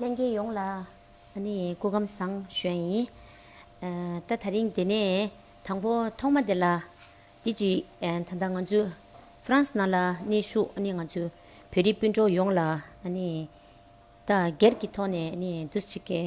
ལྷན་རྒྱས་ཡོངས་ལ་ཨ་ནི་སྐུ་ཁམས་བཟང་བཞོན་ཡིན། ད་ད་རིང་དེ་ནས་དང་པོ་ཐོག་མ་དེ་ལ་དེ་གཅིག་ད་ལྟ་ང་ཚོ་ཧྥ་རན་སི་ནང་ལ་གནས་བཞུགས་ཨ་ནི་ང་ཚོ་བོད་རིགས་སྤུན་གྲོགས་ཡོངས་ལ་ཨ་ནི་ད་སྒེར་གྱི་ཐོག་ནས་ཨ་ནི་བདུད་རྩི་གེ།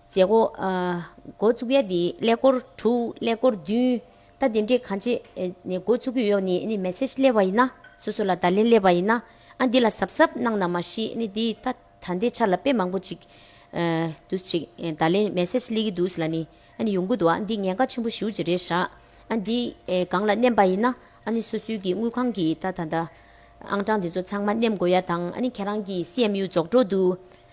མཛད་སྒོ། འགོ་བཙུགས་ཡ་དེ་ཀླད་ཀོར་དྲུག་ཀླད་ཀོར་བདུན། ད་དེ་འདྲས་གང་བྱེད་ནས་འགོ་བཙུགས་ཀྱི་ཡོད་ནི་ནི Message སླེབས་པ་ཡིན་ན་སོ་སོ་ལ་བརྡ་ལན་སླེབས་པ་ཡིན་ན་ཨ་འདི་ལ་གཟབ་གཟབ་གནང་ན་མ་གཞི་ནི་དེ་ད་ད་འདས་ཆ་ལ་དཔེ་མང་པོ་ཅིག་འདུག་ཅིག་བརྡ་ལན Message སླེབས་ཀྱི་འདུག་ལ་ནི་ཨ་ནི་ཡོང་གི་འདུག་ཨ་འདི་ཉེན་ཁ་ཆེན་པོ་ཞུ་ཅི་རེད་ཧྲ་ཨ་འདི་སྒང་ལ་མནན་པ་ཡིན་ན་ཨ་ནི་སོ་སོའི་གི་དངུལ་ཁང་གི་ད་ད་ད་ཨང་གྲངས་དེ་ཚོ་ཚང་མ་མནན་དགོས་ཡ་དང་ཨ་ནི་ཁྱེད་རང་གི CMU རྫོགས་འགྲོ་འདུག་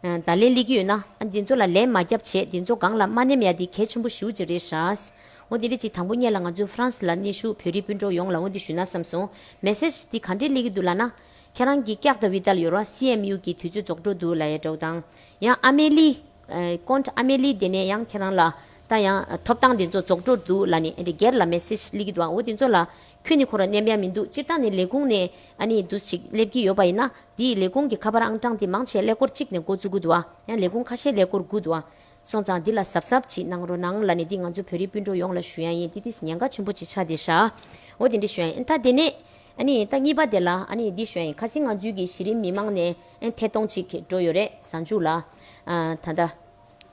བརྡ་ལན་གླེགས་ཀྱི་ཡོད་ན། འདི་ཚོ་ལ་ལན་མ་རྒྱབ་བྱས་འདི་ཚོ་སྒང་ལ་མ་ནེམ་ཡ་འདི་གལ་ཆེན་པོ་ཞུ་ཅི་རེད་ཧྲཱི། འོ་འདི་འདྲི་གཅིག་དང་པོ་གཉེར་ལ་ང་ཚོའི France ལ་གནས་ཞུགས་བོད་རིགས་སྤུན་གྲོགས་ཡོངས་ལ་འོ་འདི་ཞུ་ན་བསམ་སོང Message འདི་ག་འདྲེ་གླེགས་ཀྱི་འདུག་ལ་ན། ཁྱེད་རང་གིས་སྐྱག་དང་བི་ཏལ་ཡོར་བ CMU གི་དུས་ཚོད་རྫོགས་འགྲོ་འདུག་ལ་ཡ་འགྲོགས་དང། ཡང་ཨ་མེ་ལི། Comte Amelie དེ་ནས་ཡང་ཁྱེད་རང་ལ། ད་ཡང་ཐོབ་ཐང་འདི་ཚོ་རྫོགས་འགྲོ་འདུག་ལ་ནི་འདྲེ་སྒེར་ལ Message གླེགས་ཀྱི་འདུག་ཨ་འོ་འདི་ཚོ་ལ་ཁྱོད་ནི་ཁོ་ར་སྙམ་ཡ་མི་འདུག་སྤྱིར་བཏང་ནི་ལས་ཁུངས་ནས་ཨ་ནི་བསྡུ་ཞིག་སླེབས་ཀྱི་ཡོད་པ་ཡིན་ན་དེའི་ལས་ཁུངས་ཀྱི་ཁ་པར་ཨང་གྲངས་དེ་མང་ཆེ་ཀླད་ཀོར་གཅིག་ནས་འགོ་བཙུགས་དགོས་འདུག་ཨ་ཡང་ལས་ཁུངས་ཁ་ཤས་ཀླད་ཀོར་དགོས་འདུག་ཨ་སོང་ཙང་འདི་ལ་གཟབ་གཟབ་ཅིག་གནང་རོགས་གནང་ལ་ནི་འདི་ང་ཚོ་བོད་རིགས་སྤུན་གྲོགས་ཡོངས་ལ་ཞུ་ཡང་ཡིན་ཏི་ཏིས་ཉན་ཁ་ཆེན་པོ་ཅིག་ཆགས་དེ་ཤ་འོ་དེ་འདྲི་ཞུ་ཡང་ཡིན་ད་དེ་ནས་ཨ་ནི་ད་གཉིས་པ་དེ་ལ་ཨ་ནི་འདི་ཞུ་ཡང་ཡིན་ཁ་སིང་ང་ཚུལ་གྱི་གཞི་རིམ་མི་མང་ནས་ཨེ་ཐད་གཏོང་ཅིག་འགྲོ་ཡོད་རེད་བཟང་ཅུག་ལ་ཨ་ད་ད།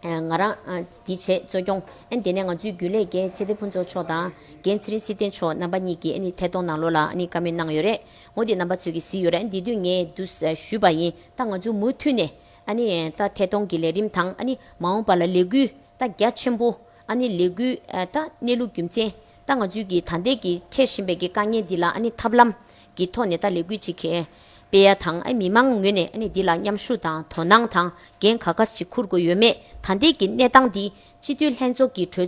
ང་རང། འདི་བྱས་གཙོས་སྐྱོང། དེ་ནས་ང་ཚོའི་རྒྱུན་ལས་རྒན་ཚེ་བདེ་ཕུན་ཚོགས་མཆོག་དང། རྒན་ཚེ་རིང་སྲིད་བརྟན་མཆོག་རྣམ་པ་གཉིས་ཀྱིས་ཐད་གཏོང་ནང་ལོགས་ལ་བཀའ་མོལ་གནང་ཡོད་རེད། ངོ་དེ་རྣམ་པ་ཚོས་ཀྱིས་གཟིགས་ཡོད་རེད། འདི་དུས་ངས་བསྡུ་ཞུས་པ་ཡིན། ད་ང་ཚོས་མུ་མཐུད་ནས། ད་ཐད་གཏོང་གི་ལས་རིམ་དང། མ་འོངས་པ་ལ་ལས་འགུལ། ད་རྒྱ་ཆེན་པོ། ལས་འགུལ། གནས་ལུགས་རྒྱུ་མཚན། ད་ང་ཚོས་ཀྱིས་ད་འདས་ཀྱིས་འཕྲད་བཞིན་པའི་དཀའ་ངལ་འདི་ལ་ཐབས་ལམ་གྱི་ཐོག་ནས་ད་ལས་འགུལ་ཅིག་སྤེལ་ཡ་དང་མི་མང་ངོས་ནས་འདི་ལ་མཉམ་ཞུགས་དང་དོ་སྣང་དང་འགན་ག་གཱ་ཞིག་འཁུར་དགོས་ཡོད་མེད་ད་འདས་ཀྱི་གནས་སྟངས་འདི་སྤྱི་འཐུས་ལྷན་ཚོགས་ཀྱི་གྲོས་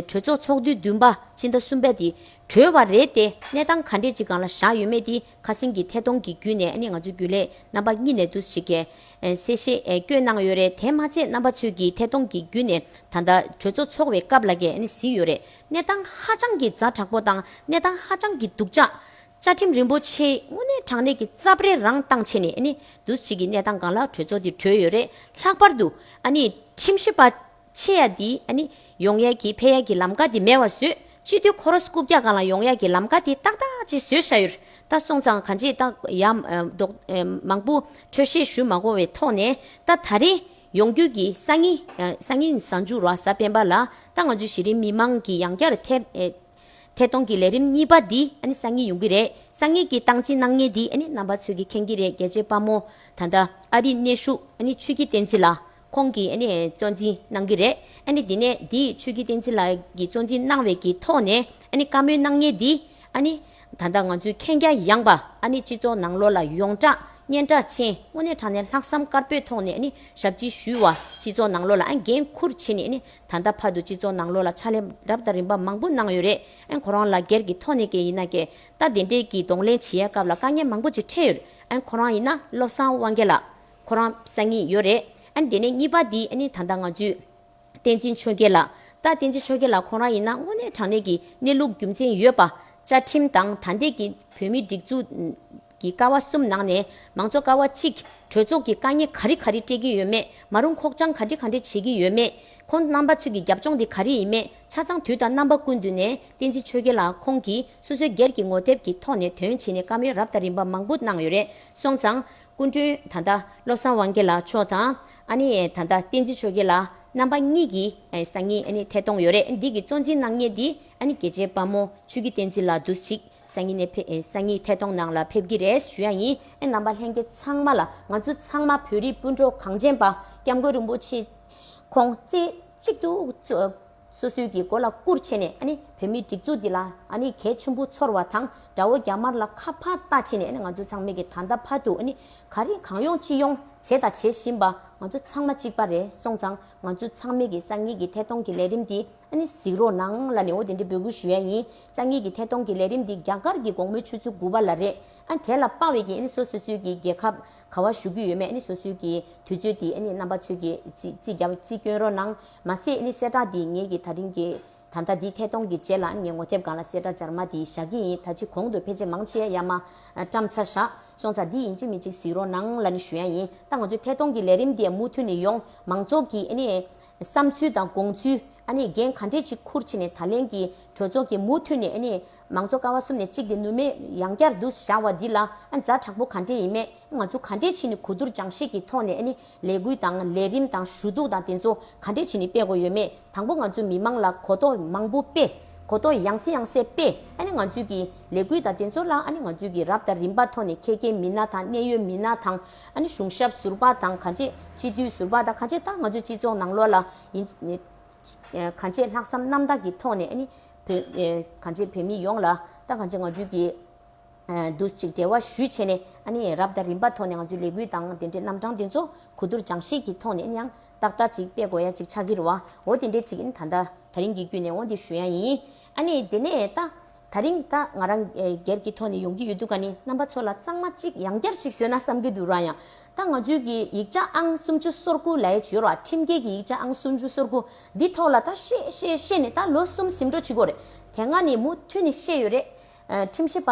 ཚོགས་ཚོགས་དུས་བདུན་པ་སྤྱི་ཟླ་གསུམ་པ་དེ་གྲོལ་བ་རེད་དེ་གནས་སྟངས་ག་འདྲས་ཅིག་གང་ལ་བཞག་ཡོད་མེད་དེ་ཁ་སེང་གི་ཐད་གཏོང་གི་བརྒྱུད་ནས་ང་ཚོའི་རྒྱུན་ལས་རྣམ་པ་གཉིས་ནས་འདུ་ཞིག་གིས། གསལ་བཤད་སྐྱོན་གནང་ཡོད་རེད་དེ་མ་ཚད་རྣམ་པ་ཚོས་ཀྱིས་ཐད་གཏོང་གི་བརྒྱུད་ནས་ད་ལྟ་གྲོས་ཚོགས་འཚོགས་བའི་སྐབས་ལ་གས་གཟིགས་ཡོད་རེད་གནས་སྟངས་ཧ་ཅང་གི་རྫ་དྲག་པོ་དང་གནས་སྟངས་ཧ་ཅང་གི་སྡུག་ཅག། བཅའ་ཁྲིམས་རིན་པོ་ཆེའི་དངོས་གནས་དྲང་གནས་ཀྱི་རྩ་བརེ་རང་བཏང་ཆེ་ནས་འདུ་བྱེད་ཀྱི་གནས་སྟངས་གང་ལ་གྲོས་ཚོགས་དེ་གྲོལ་ཡོད་རེད་ལྷག་པར་དུ། ཁྲིམས་ཞིབ་པ། ཆེ་ཡ་འདི་ཨ་ནི། ཡོང་ཡ་གི་ཕེ་ཡ་གི་ལམ་ཀ་འདི་མེ་བ་ཟོས། སྤྱི་འཐུས་ཁོ་རོ་སྐུ་བརྒྱ་གང་ལ་ཡོང་ཡ་གི་ལམ་ཀ་འདི་ཏག་ཏག་ཅིག་ཟོས་ཤ་ཡོད། ད་སོང་ཙང་ག་འཇིགས་ཏག་ཡ། མདོག། མང་པོ། འཕྲོད་བཞེས་ཞུ་མ་གོ་བའི་ཐོག་ནས། ད་ད་རེ། ཡོང་རྒྱུད་ཀྱི་ས་ངི། ས་ངི་ཟ་འཇུག་རོ་ཟ་སྤེན་པ་ལ། ད་ང་ཚོའི་གཞི་རིམ་མི་མང་གི་ཡང་བསྐྱར་ཐེ། ཐེ་གཏོང་གི་ལས་རིམ་གཉིས་པ་འདི་ཨ་ནི་ས་ངི་ཡོང་གི་རེད། ས་ངི་གི་སྟངས་འཛིན་གནང་ཉེ་འདི་ཨ་ནི་རྣམ་པ་ཚོས་གི་མཁྱེན་གི་རེད་རྒྱལ་གཅེས་དཔའ་མོ། ད་ད། ཨ་རིའི་གནས་བཞུགས་ཨ་ནི་ཆོས་སྐྱིད་བསྟན་འཛིན་ལ། ཁོང་གིས་ཨ་ནེ་གཙོ་འཛིན་གནང་གི་རེད། ཨ་ནེ་འདི་ནས་འདི་ཆོས་ཀྱི་བསྟན་འཛིན་ལགས་ཀྱིས་གཙོ་འཛིན་གནང་བའི་གི་ཐོག་ནས་ཨ་ནེ་བཀའ་མོལ་གནང་ཉེ་འདི་ཨ་ནེ། ད་ལྟ་ང་ཚོའི་མཁྱེན་རྒྱ་ཡངས་པ་ཨ་ནེ་སྤྱི་ཚོགས་ནང་ལོ་ལ་ཡོངས་གྲགས་སྙན་གྲགས་ཆེན་དངོས་གནས་དྲང་གནས་ལྷག་བསམ་དཀར་པོའི་ཐོག་ནས་ཨ་ནེ་ཞབས་ཕྱི་ཞུས་བ་སྤྱི་ཚོགས་ནང་ལོ་ལ་ཨ་འགན་ཁུར་བྱེད་ནས་ཨ་ནེ་ད་ལྟ་བར་དུ་སྤྱི་ཚོགས་ནང་ལོ་ལ་ཕྱག་ལས་རབ་དང་རིམ་པ་མང་པོ་གནང་ཡོད་རེད་ཨ་ཁོ་རང་ལ་སྒེར་གྱི་ཐོག་ནས་ཀྱི་ཡིན་ན་ཀྱེ་རྟ་དེ་འདྲས་ཀྱི་གདོང་ལེན་བྱེད་ཡའི་སྐབས་ལ་དཀའ་ངལ་མང་པོ་ཅིག་འཕྲད་ཡོད་ཨ་ཁོ་རང་ཡིན་ན་བློ་བཟང་དབང་རྒྱལ་ལགས། ཁོ་རང་སང་ཉིན་ཡོད་རེད། ཨ་དེ་ནས་གཉིས་པ་དེ་ནི་ད་ལྟ་ང་ཚོའི། བསྟན་འཛིན་ཆོས་རྒྱལ་ལགས། ད་བསྟན་འཛིན་ཆོས་རྒྱལ་ལགས་ཁོང་རང་ཡིན་ན་དངོས་གནས་དྲང་གནས་ཀྱི་གནས་ལུགས་རྒྱུ་མཚན་ཡོད་པ། བཅའ་ཁྲིམས་དང་ད་ལྟའི་གི་བོད་མིའི་སྒྲིག་འཛུགས། ཀྱི་ཀ་བ་གསུམ་ནང་ནས་མང་གཙོ་ཀ་བ་གཅིག། གྲོས་ཚོགས་ཀྱི་དཀའ་ཉེ་ག་རེ་ག་རེ་སྤྲད་ཀྱི་ཡོད་མེད་མ་རུང་ཁོག་བཅང་ག་འདྲེ་ག་འདྲེ་བྱེད་ཀྱི་ཡོད་མེད། ཁོང་རྣམ་པ་ཚོས་ཀྱི་རྒྱབ་ལྗོངས་དེ་ག་རེ་ཡིན་མེད་ཆ་ཚང་དུས་དང་རྣམ་པ་ཀུན་ཏུ་ནས་བསྟན་འཛིན་ཆོས་རྒྱལ་ལགས་ཁོང་གིས་སོ་སོའི་སྒེར་གྱི་ངོ་དེབ་ཀྱི་ཐོག་ནས་དོན་བྱས་ནས་བཀའ་མོལ་རབ་དང་རིམ་པ་མང་པོ་གནང་ཡོད་རེད་སོང་ཙང། སྐུ་མདུན་ད་ལྟ་བློ་བཟང་དབང་རྒྱལ་མཆོག་དང། ད་ལྟ་བསྟན་འཛིན་ཆོས་རྒྱལ་ལ་རྣམ་པ་གཉིས་ཀྱི་སང་ཉིན་ཐད་གཏོང་ཡོད་རེད་འདི་གི་གཙོ་འཛིན་གནང་ངེས་འདི་གལ་ཆེ་དཔའ་མོ་ཆོས་ཀྱི་བསྟན་འཛིན་ལགས་འདུག་ཅིག་སང་ཉིན་སང་ཉིན་ཐད་གཏོང་ནང་ལ་ཕེབས་ཀྱི་རེད་ཞུ་ཡ་ཡིན་ཨེ་རྣམ་པ་ལྷན་རྒྱས་ཚང་མ་ལ་ང་ཚོ་ཚང་མ་བོད་རིགས་སྤུན་གྲོགས་གངས་ཅན་པ་སྐྱབས་མགོན་རིན་པོ་ཆེ་ཁོང་རྩེ་གཅིག་ཏུ་སོ་སོའི་གི་མགོ་ལ་བསྐུར་བྱས་ནས་བོད་མིའི་སྒྲིག་འཛུགས་འདི་ལ་གལ་ཆེན་པོ་ཚོར་བ་དང་དགྲ་བོ་རྒྱ་དམར་ལ་ཁ་ཕག་ལྟ་བྱས་ནས་ང་ཚོ་ཚང་མས་གི་ད་ལྟ་བར་དུ་ག་རེ་གང་ཡོང་ཅི་ཡོང་བྱས་དང་བྱེད་བཞིན་པ་ང་ཚོ་ཚང་མ་གཅིག་པ་རེད་སོང་ཙང་ང་ཚོ་ཚང་མས་གི་སང་ཉིན་གི་ཐད་གཏོང་གི་ལས་རིམ་འདི་གཟིགས་རོགས་གནང་ལ་ནི་འོ་དེ་འདྲའི་འབོད་སྐུལ་ཞུ་ཡ་ཡིན་སང་ཉིན་གི་ཐད་གཏོང་གི་ལས་རིམ་འདི་རྒྱ་གར་གི་དགོང་མོའི་ཆུ་ཚོད་དགུ་པ་ལ་རེད་ཨ་དེ་ལ་དཔའ་བའི་གི་སོ་སོ་སོའི་གི་རྒྱལ་ཁབ། ག་བ་ཞུ་གི་ཡོད་མེད་ནི་སོ་སོའི་གི་དུས་ཚོད་དེ་ནི་རྣམ་པ་ཚོས་གི་ཅི་བརྒྱབ་ཅི་བསྐྱོན་རོགས་གནང། མ་ཟད་ནི་གསལ་བསྒྲགས་དེ་ངས་གི་ད་རིང་གི་ད་ལྟ་དེ་ཐད་གཏོང་གི་རྗེས་ལ་ངས་ངོ་དེབ་སྒང་ལ་གསལ་བསྒྲགས་སྦྱར་མ་དེ་བཞག་གི་ཡིན་ད་ཅི་གོང་དུ་ཕལ་ཆེར་མང་ཆེ་ཡ་མ་བཀྲམ་ཚར་བཞག་སོང་ཚ་དེ་ཡིན་གཅིག་མིན་གཅིག་གཟིགས་རོགས་གནང་ལ་ནི་ཞུ་ཡ་ཡིན་ད་ང་ཚོའི་ཐད་གཏོང་གི་ལས་རིམ་དེ་མུ་མཐུད་ནི་ཡོང་མང་ཚོགས་གི་ནི་བསམ་ཚུལ་དང་དགོངས་ཚུལ་ནི་འགན་ག་འདྲས་ཅིག་འཁུར་ཕྱིན་ནི་ད་ལན་གི་གྲོས་ཚོགས་ཀྱི་མུ་མཐུད་ནི་མང་གཙོ་ཀ་བ་གསུམ་ནས་གཅིག་དེ་ནུས་མེད་ཡང་བསྐྱར་བསྡུ་བཞག་བ་འདི་ལ་མཛའ་དྲག་པོ་ག་འདྲེ་ཡིན་མེད་ང་ཚོ་ག་འདྲེ་བྱིན་ནས་གོ་བསྡུར་སྦྱང་ཤེས་ཀྱི་ཐོག་ནས་ནི་ལས་འགུལ་དང་ལས་རིམ་དང་ཞུ་གཏུག་དང་དེ་ཚོ་ག་འདྲེ་བྱིན་ནས་སྤེལ་དགོས་ཡོད་མེད་དང་པོ་ང་ཚོ་མི་མང་ལ་གོ་རྟོགས་མང་པོ་སྤེལ་གོ་རྟོགས་ཡང་སེ་ཡང་སེ་སྤེལ་ནི་ང་ཚོས་ཀྱི་ལས་འགུལ་དང་དེ་ཚོ་ལ་ནི་ང་ཚོས་ཀྱི་རབ་དང་རིམ་པ་ཐོག་ནས་ཁྱད་མཁས་མི་སྣ་དང་གནད་ཡོད་མི་སྣ་དང་ནི་གཞུང་ཞབས་ཟུར་པ་དང་ག་འདྲེ་སྤྱི་འཐུས་ཟུར་པ་དང་ག་འདྲེ་དང་ང་ཚོའི་སྤྱི་ཚོགས་ནང་ལོགས་ལ་ཡིན་ག་འདྲེ་ལྷག་བསམ་རྣམ་དག་གི་ཐོག་ནས་ནི་གང་བྱེད་བོད་མི་ཡོངས་ལ་ཏང་གང་བྱེད་ང་ཚོས་ཀྱིས་འདུ་གཅིག་འབྲེལ་བ་ཞུས་བྱས་ནས་རབ་དང་རིམ་པ་ཐོག་ནས་ང་ཚོའི་ལས་འགུལ་དང་དེ་འབྲེལ་རྣམ་གྲངས་དེ་ཚོ་གོ་བསྡུར་སྦྱང་བཤད་ཀྱི་ཐོག་ནས་ཡང་ཏག་ཏག་ཅིག་སྤེལ་དགོས་ཡ་ཅིག་ཆགས་ཀྱི་རོ་འོ་དེ་འདྲའི་ཅིག་ཡིན་ད་ད་རིང་གི་བརྒྱུད་ནས་འོ་འདི་ཞུ་ཡ་ཡིན། དེ་ནས་ད་ད་རིང་ད་ང་རང་སྒེར་གྱི་ཐོག་ནས་ཡོང་གི་ཡོད་འདུག་ག་ནི་རྣམ་པ་ཚོ་ལ་གཙང་མ་ཅིག་ཡང་བསྐྱར་ཅིག་ཞུས་ན་བསམ་གྱི་འདུག་རང་ཡང་ད་ང་ཚོའི་གི་ཡིག་ཆ་ཨང་སུམ་ཅུ་སོར་དགུ་ལའི་བྱུས་རོགས་ཁྲིམས་འགལ་གི་ཡིག་ཆ་ཨང་སུམ་ཅུ་སོར་དགུ་འདི་ཐོག་ལ་ད་ཤེས་ཤེས་ཤེས་ནས་ད་ལོ་གསུམ་ཟིམ་འགྲོ་བྱེད་དགོས་རེད་དེ་སྔ་ནས་མུ་མཐུད་ནས་ཤེས་ཡོད་རེད། ཁྲིམས་ཞིབ་པ་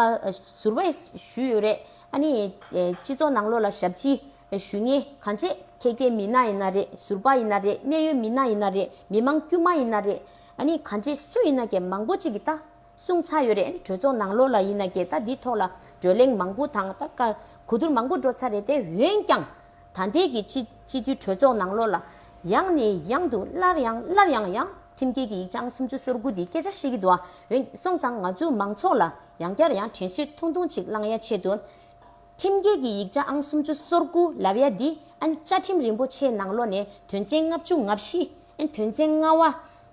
ཟུར་བས་ཞུས་ཡོད་རེད་ཨ་ནི། སྤྱི་ཚོགས་ནང་ལོགས་ལ་ཞབས་ཕྱི་ཞུས་ངེས་གང་བྱེད་ཁྱེད་སྐྱེ་མི་ན་ཡིན་ན་རེད་ཟུར་པ་ཡིན་ན་རེད་གནད་ཡོད་མི་ན་ཡིན་ན་རེད་མི་མང་དཀྱུས་མ་ཡིན་ན་རེད་ཨ་ནི་གང་བྱེད་སུ་ཡིན་ན་གྱི་མང་པོ་ཅིག་གི་ད། གསུངས་ཚར་ཡོད་རེད་གྲོས་ཚོགས་ནང་ལོ་ལ་ཡིན་ན་གྱེས་ད་འདི་ཐོག་ལ་བགྲོས་གླེང་མང་པོ་དང་ད་ཀ་གོ་བསྡུར་མང་པོ་འགྲོ་ཚར་རེད་དེ་འོན་ཀྱང་ད་འདས་ཀྱི་སྤྱི་སྤྱི་འཐུས་གྲོས་ཚོགས་ནང་ལོ་ལ་ཡང་ནས་ཡང་དུ་སླར་ཡང་སླར་ཡང་ཡང་ཁྲིམས་འགལ་གྱི་ཡིག་ཆའང་སུམ་ཅུ་སོར་དགུ་འདི་སྐད་ཆ་ཤེས་ཀྱི་འདུག་ཨ་འོན་སོང་ཙང་ང་ཚོའི་མང་ཚོགས་ལ་ཡང་བསྐྱར་ཡང་དྲན་གསོས་ཐུང་ཐུང་ཅིག་བླང་ཡ་ཆེད་དུ། ཁྲིམས་འགལ་གྱི་ཡིག་ཆ་ཨང་སུམ་ཅུ་སོར་དགུ་ལབ་ཡ་འདི་ཨ་བཅའ་ཁྲིམས་རིན་པོ་ཆེ་ནང་ལོ་ནས་དོན་ཚན་ལྔ་བཅུ་ལྔ་བཞི་ཨ་དོན་ཚན་ལྔ་བ་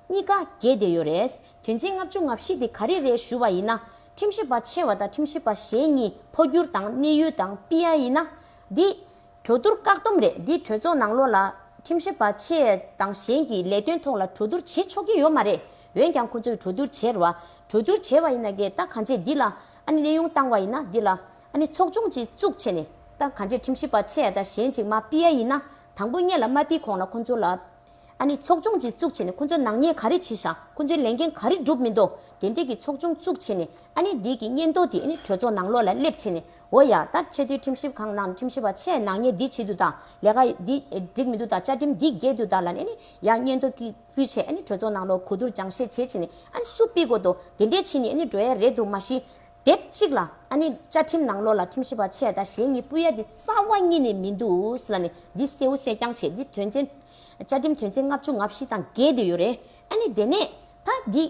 གཉིས་ཀ་གྱེས་བསྡད་ཡོད་རེད་དོན་ཚན་ལྔ་བཅུ་ང་བཞི་དེ་ག་རེ་རེད་ཞུ་བ་ཡིན་ན་ཁྲིམས་ཞིབ་པ་ཆེ་བ་དང་ཁྲིམས་ཞིབ་པ་གཞན་གཉིས་འཕོ་འགྱུར་དང་གནས་ཡུལ་དང་པིཡ་ཡིན་ན་འདི། གྲོས་བསྡུར་བཀག་སྡོམ་རེད་འདི་གྲོས་ཚོགས་ནང་ལོགས་ལ་ཁྲིམས་ཞིབ་པ་ཆེ་དང་གཞན་གྱིས་ལས་དོན་ཐོག་ལ་གྲོས་བསྡུར་བྱེད་ཆོག་གི་ཡོད་མ་རེད་འོན་ཀྱང་ཁོ་ཚོས་གྲོས་བསྡུར་བྱེད་རོགས་གྲོས་བསྡུར་བྱེད་བ་ཡིན་ན་གི་ད་གང་ཆེ་འདི་ལ་ཨ་ནི་གནས་དབྱུང་བཏང་བ་ཡིན་ན་འདི་ལ་ཨ་ནི་ཚོགས་ཆུང་གཅིག་བཙུགས་བྱས་ནས་ད་གང་ཆེ་ཁྲིམས་ཞིབ་པ་ཆེ་དང་གཞན་གཅིག་མ་པིཡ་ཡིན་ན་དང་པོ་གཉེར་ལ་མ་པིས་གོང་ལ་ཁོ་ཚོ་ལ་ཨ་ནི་ཚོགས་ཆུང་ཅིག་བཙུགས་བྱས་ནས་ཁོ་ཚོའི་ནག་ཉེས་ག་རེ་བྱས་ཤག་ཁོ་ཚོའི་ལས་འགན་ག་རེ་བསྒྲུབས་མི་འདུག་དེ་འབྲེལ་གྱི་ཚོགས་ཆུང་བཙུགས་བྱས་ནས་ཨ་ནི་བདེ་སྐྱིད་སྙན་ཐོ་དེ་ཨ་ནི་གྲོས་ཚོགས་ནང་ལོགས་ལ་སླེབས་བྱས་ནས་འོ་ཡ་ད་ཆེས་མཐོའི་ཁྲིམས་ཞིབ་ཁང་ནང་ཁྲིམས་ཞིབ་པ་ཆེས་ནག་ཉེས་འདི་བྱེད་དུ་དང་ལས་ཀ་འདི་འགྲིག་མི་འདུག་དང་བཅའ་ཁྲིམས་འདི་རྒྱས་དུ་དང་ལ་ནི་ཨ་ནི་ཡ་སྙན་ཐོ་ཀི་ཕུལ་བྱས་ཨ་ནི་གྲོས་ཚོགས་ནང་ལོགས་གོ་བསྡུར་སྦྱང་བཤད་བྱས་བྱས་ནས་ཨ་ནི་སུ་སྤི་དགོས་འདུག་དེ་འབྲེལ་ཕྱིས་ནས་ཨ་ནི་གྲོས་ཡ་རེད་འདུག་མ་གཞི་དེབ་གཅིག་ལ་ཨ་ནི་བཅའ་ཁྲིམས་ནང་ལོགས་ལ་ཁྲིམས་ཞིབ་པ་ཆེ་དང་ཞེ་གཉིས་སྤུས་ཡ་དེ་རྩ་བ་གཉིས་ནས་མི་འདུག་ལ་ནི་འདི་གསལ་བོ་གསལ་རྐྱང་བྱས་འདི་དོན་ཚན། བཅའ་ཁྲིམས་དོན་ཚན་ལྔ་བཅུ་ང་བཞི་དང་བརྒལ་འདོད་ཡོད་རེད་ཨ་ནི་དེ་ནས་ད་འདི་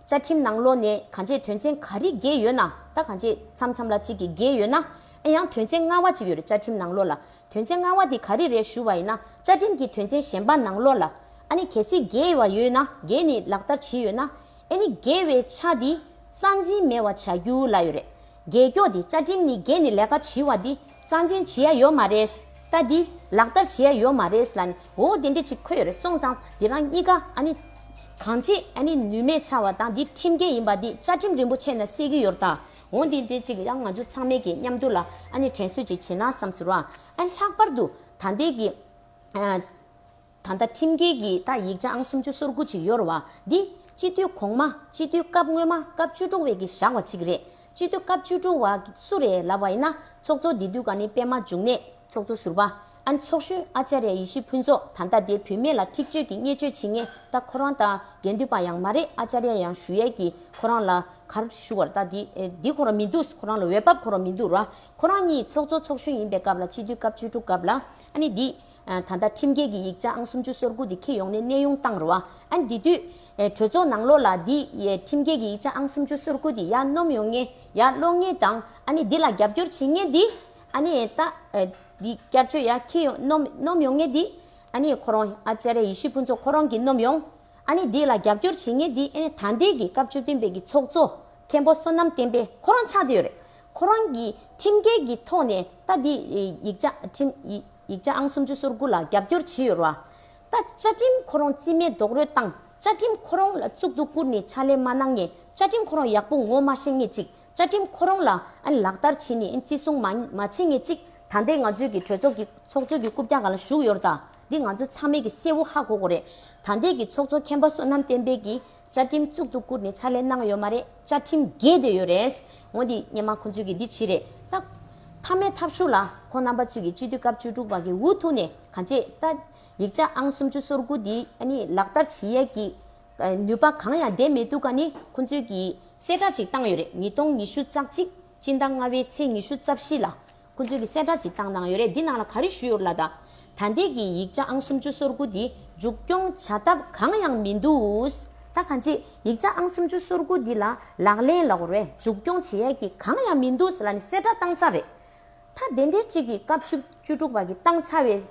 བཅའ་ཁྲིམས་ནང་ལོགས་ནས་ག་འདྲས་དོན་ཚན་ག་རིགས་བརྒལ་ཡོད་ན་ད་ག་འདྲས་མཚམས་མཚམས་ལ་གཅིག་གི་བརྒལ་ཡོད་ན་ཨ་ཡང་དོན་ཚན་ལྔ་བ་གཅིག་ཡོད་རེད་བཅའ་ཁྲིམས་ནང་ལོགས་ལ་དོན་ཚན་ལྔ་བ་དེ་ག་རིགས་རེད་ཞུ་བ་ཡིན་ན་བཅའ་ཁྲིམས་ཀྱི་དོན་ཚན་གཞན་པ་ནང་ལོགས་ལ་ཨ་ནི་གལ་སྲིད་བརྒལ་བ་ཡོད་ན་བརྒལ་ནས་ལག་བསྟར་བྱེད་ཡོད་ན་ཨེ་ནི་དགེ་བའི་ཆ་འདི་རྩ་འཛིན་མེད་བ་བྱ་རྒྱུ་ལ་ཡོད་རེད་རྒྱལ་སྐྱོག་འདི་བཅའ་ཁྲིམས་ནི་རྒྱས་ནི་ལས་ཀ་བྱི་བ་འདི་རྩ་འཛིན་བྱི་ཡ་ཡོད་མ་རེད་ད་འདི་ལག་བསྟར་བྱི་ཡ་ཡོད་མ་རེད་ལ་ནི་འོ་དེ་འདྲས་ཅིག་འཁོད་ཡོད་རེད་སོང་ཙང་འདི་རང་གཉིས་ཀ་ཨ་ནི་གང་བྱེད་ཨེ་ནི་ནུས་མེད་ཆ་བ་དང་འདི་ཁྲིམས་འགལ་ཡིན་པ་འདི་བཅའ་ཁྲིམས་རིན་པོ་ཆེ་ན་གསལ་གི་ཡོད་རད་འོ་འདི་འདྲས་ཅིག་ཡང་ང་ཚོ་ཚང་མས་ཀྱི་མཉམ་དུ་ལ་ཨ་ནི་དྲན་གསོས་ཅིག་བྱེད་ན་བསམ་ཟུར་བ་ཨེ་ལྷག་པར་དུ་ད་འདས་ཀྱི། ད་ལྟ་ཁྲིམས་འགལ་གྱིས་ད་ཡིག་ཆའང་སུམ་ཅུ་སོར་དགུ་ཅིག་གཡོར་བ་འདི། སྤྱི་འཐུས་གོང་མ་སྤྱི་འཐུས་སྐབས་སྔོན་མ་སྐབས་བཅུ་དྲུག་བས་ཀྱིས་བཞག་བ་ཅིག་རེད། སྤྱི་འཐུས་སྐབས་བཅུ་དྲུག་བ་སུ་རེད་ལབ་བ་ཡིན་ན་ཚོགས་གཙོ་འདི་དུས་ག་ནི་པད་མ་འབྱུང་གནས་ཚོགས་གཙོ་ཟུར་པ་ཨན་ཚོགས་གཞོན་ཨ་ཅཱ་རེ་ཡེ་ཤེས་ཕུན་ཚོགས་ད་ལྟ་དེ་བུད་མེད་ལ་འཁྲིག་སྤྱོད་ཀྱི་བརྙས་བཅོས་བྱེད་ངེས་ད་ཁོ་རང་ད་གན་དུས་པ་ཡང་མ་རེད་ཨ་ཅཱ་རེ་ཡང་ཞུ་ཡས་ཀྱིས་ཁོ་རང་ལ་གར་ཞུ་བར་ད་དེ་དེ་ཁོ་རང་མི་འདུག་ཁོ་རང་ལ་འོས་བབ་ཁོ་རང་མི་འདུག་ར་ཁོ་རང་གཉིས་ཚོགས་གཙོ་ཚོགས་གཞོན་ཡིན་པའི་སྐབས་ལ་སྤྱི་འཐུས་སྐབས་བཅུ་དྲུག་སྐབས་ལ་ཨ་ནི་འདི། ད་ལྟ་ཁྲིམས་འགལ་གྱི་ཡིག་ཆ་ཨང་སུམ་ཅུ་སོར་དགུ་དེ་ཁྱི་ཡོང་ནས་གནས་དབྱུང་བཏང་རུ་ཨ། དེ་དུས། གྲོས་ཚོགས་ནང་ལོག་ལ་འདི། ཁྲིམས་འགལ་གྱི་ཡིག་ཆ་ཨང་སུམ་ཅུ་སོར་དགུ་དེ་ཡར་སྣོམ་ཡོང་ངེས། ཡར་སློག་ངེས་དང། ཨ་ནི་འདི་ལ་རྒྱབ་སྐྱོར་བྱེད་ངེས་འདི། ཨ་ནི། ད། འདི་བསྐྱར་བཅོས་ཡར་ཁྱི་ཡོང་སྣོམ་སྣོམ་ཡོང་ངེས་འདི། ཨ་ནི་ཁོ་རང། ཨ་ཅེ་རེ་ཡི་ཤི་ཕུན་ཚོགས་ཁོ་རང་གིས་སྣོམ་ཡོང། ཨ་ནི་འདི་ལ་རྒྱབ་སྐྱོར་བྱེད་ངེས་འདི། ཨ་ནི་ད་འདས་ཀྱི་སྐབས་བཅུ་བདུན་པའི་གི་ཚོགས་གཙོ། མཁན་པོ་བསོད་ནམས་བསྟན་པས་ཁོ་རང་ཆགས་བསྡད་ཡོད་རེད། ཁོ་རང་གིས་ཁྲིམས་འགལ་གྱི་ཐོག་ནས་ད་འདི། ཡིག་ཆ་ཁྲིམས། ཡིག་ཆ་ཨང་སུམ་ཅུ་སོར་དགུ་ལ་རྒྱབ་སྐྱོར་ཇི་ཡོད་རོགས། ད་བཅའ་ཁྲིམས་ཁོ་རོང་རྩིས་མེད་རྡོག་རོལ་བཏང་བཅའ་ཁྲིམས་ཁོ་རོང་ལ་གཙུག་ཏུ་བཀུར་ནས་ཕྱག་ལས་མ་གནང་ངས་བཅའ་ཁྲིམས་ཁོ་རོང་ཡག་པོ་ངོ་མ་ཤེས་ངེས་ཅིག་བཅའ་ཁྲིམས་ཁོ་རོང་ལ་ཨན་ལག་བསྟར་བྱེད་ནས་ཨན་བརྩི་སྲུང་མ་མ་བྱེད་ངེས་ཅིག་ད་ལྟའི་ང་ཚོའི་གི་གྲོས་ཚོགས་ཀྱི་ཚོགས་གཙོ་གི་རྐུབ་བཀྱག་ག་ལ་བཞུགས་ཡོར་ད་འདི་ང་ཚོ་ཚང་མའི་གི་སེ་བོ་ཧ་གོ་གོ་རེད་ད་ལྟའི་གི་ཚོགས་གཙོ་མཁན་པ་བསོད་ནམས་བསྟན་འཕེལ་གི་བཅའ་ཁྲིམས་གཙུག་ཏུ་བཀུར་ནས་ཕྱག་ལས་གནང་ཡོད་མ་རེད་བཅའ་ཁྲིམས་རྒྱས་སྡོད་ཡོད་རེད། ངོ་འདི་སྙན་མ་ཁོ་ཚོས་ཀྱི་འདི་ཕྱི་རེད་ད། མཐའ་མའི་ཐབས་ཤུགས་ལ་ཁོ་རྣམ་པ་ཚོས་ཀྱི་སྤྱི་འཐུས་སྐབས་བཅུ་དྲུག་པ་གི་འུ་ཐུག་ནས་ག་འབྱེད་ད། ཡིག་ཆ་ཨང་སུམ་ཅུ་སོར་དགུ་འདི་ནི་ལག་བསྟར་བྱེད་ཡས་ཀྱི། ནུས་པ་གང་ཡང་ལྡན་མེད་འདུག་ག་ནི་ཁོ་ཚོས་ཀྱི། གསལ་བསྒྲགས་ཅིག་བཏང་ཡོད་རེད་ཉིས་སྟོང་ཉི་ཤུ་རྩ་གཅིག་སྤྱི་ཟླ་ལྔ་བའི་ཚེས་ཉི་ཤུ་རྩ་བཞི་ལ། ཁོ་ཚོས་ཀྱི་གསལ་བསྒྲགས་ཅིག་བཏང་གནང་ཡོད་རེད་འདི་ནང་ལ་ག་རེ་ཞུས་ཡོད་རེད་ལ་དང། ད་ལྟའི་ཀྱི་ཡིག་ཆ་ཨང་སུམ་ཅུ་སོར་དགུ་འདི་མཇུག་སྐྱོང་བྱ་ཐབས་གང་ཡང་མི་འདུག། ད་ག་འདྲས་ཡིག་ཆ་ཨང་སུམ་ཅུ་སོར་དགུ་འདི་ལ་ལག་ལེན་ལ་བར་བས་མཇུག་སྐྱོང་བྱེད་ཡས་ཀྱི་གང་ཡང་མི་འདུག་ལ་ནི་གསལ་བསྒྲགས་བཏང་ཚར་རེད། ད་དེ་འདྲས་ཅིག་གི་སྐབས་བཅུ་བཅུ་དྲུག་པ་གི་བཏང་ཚར་བས་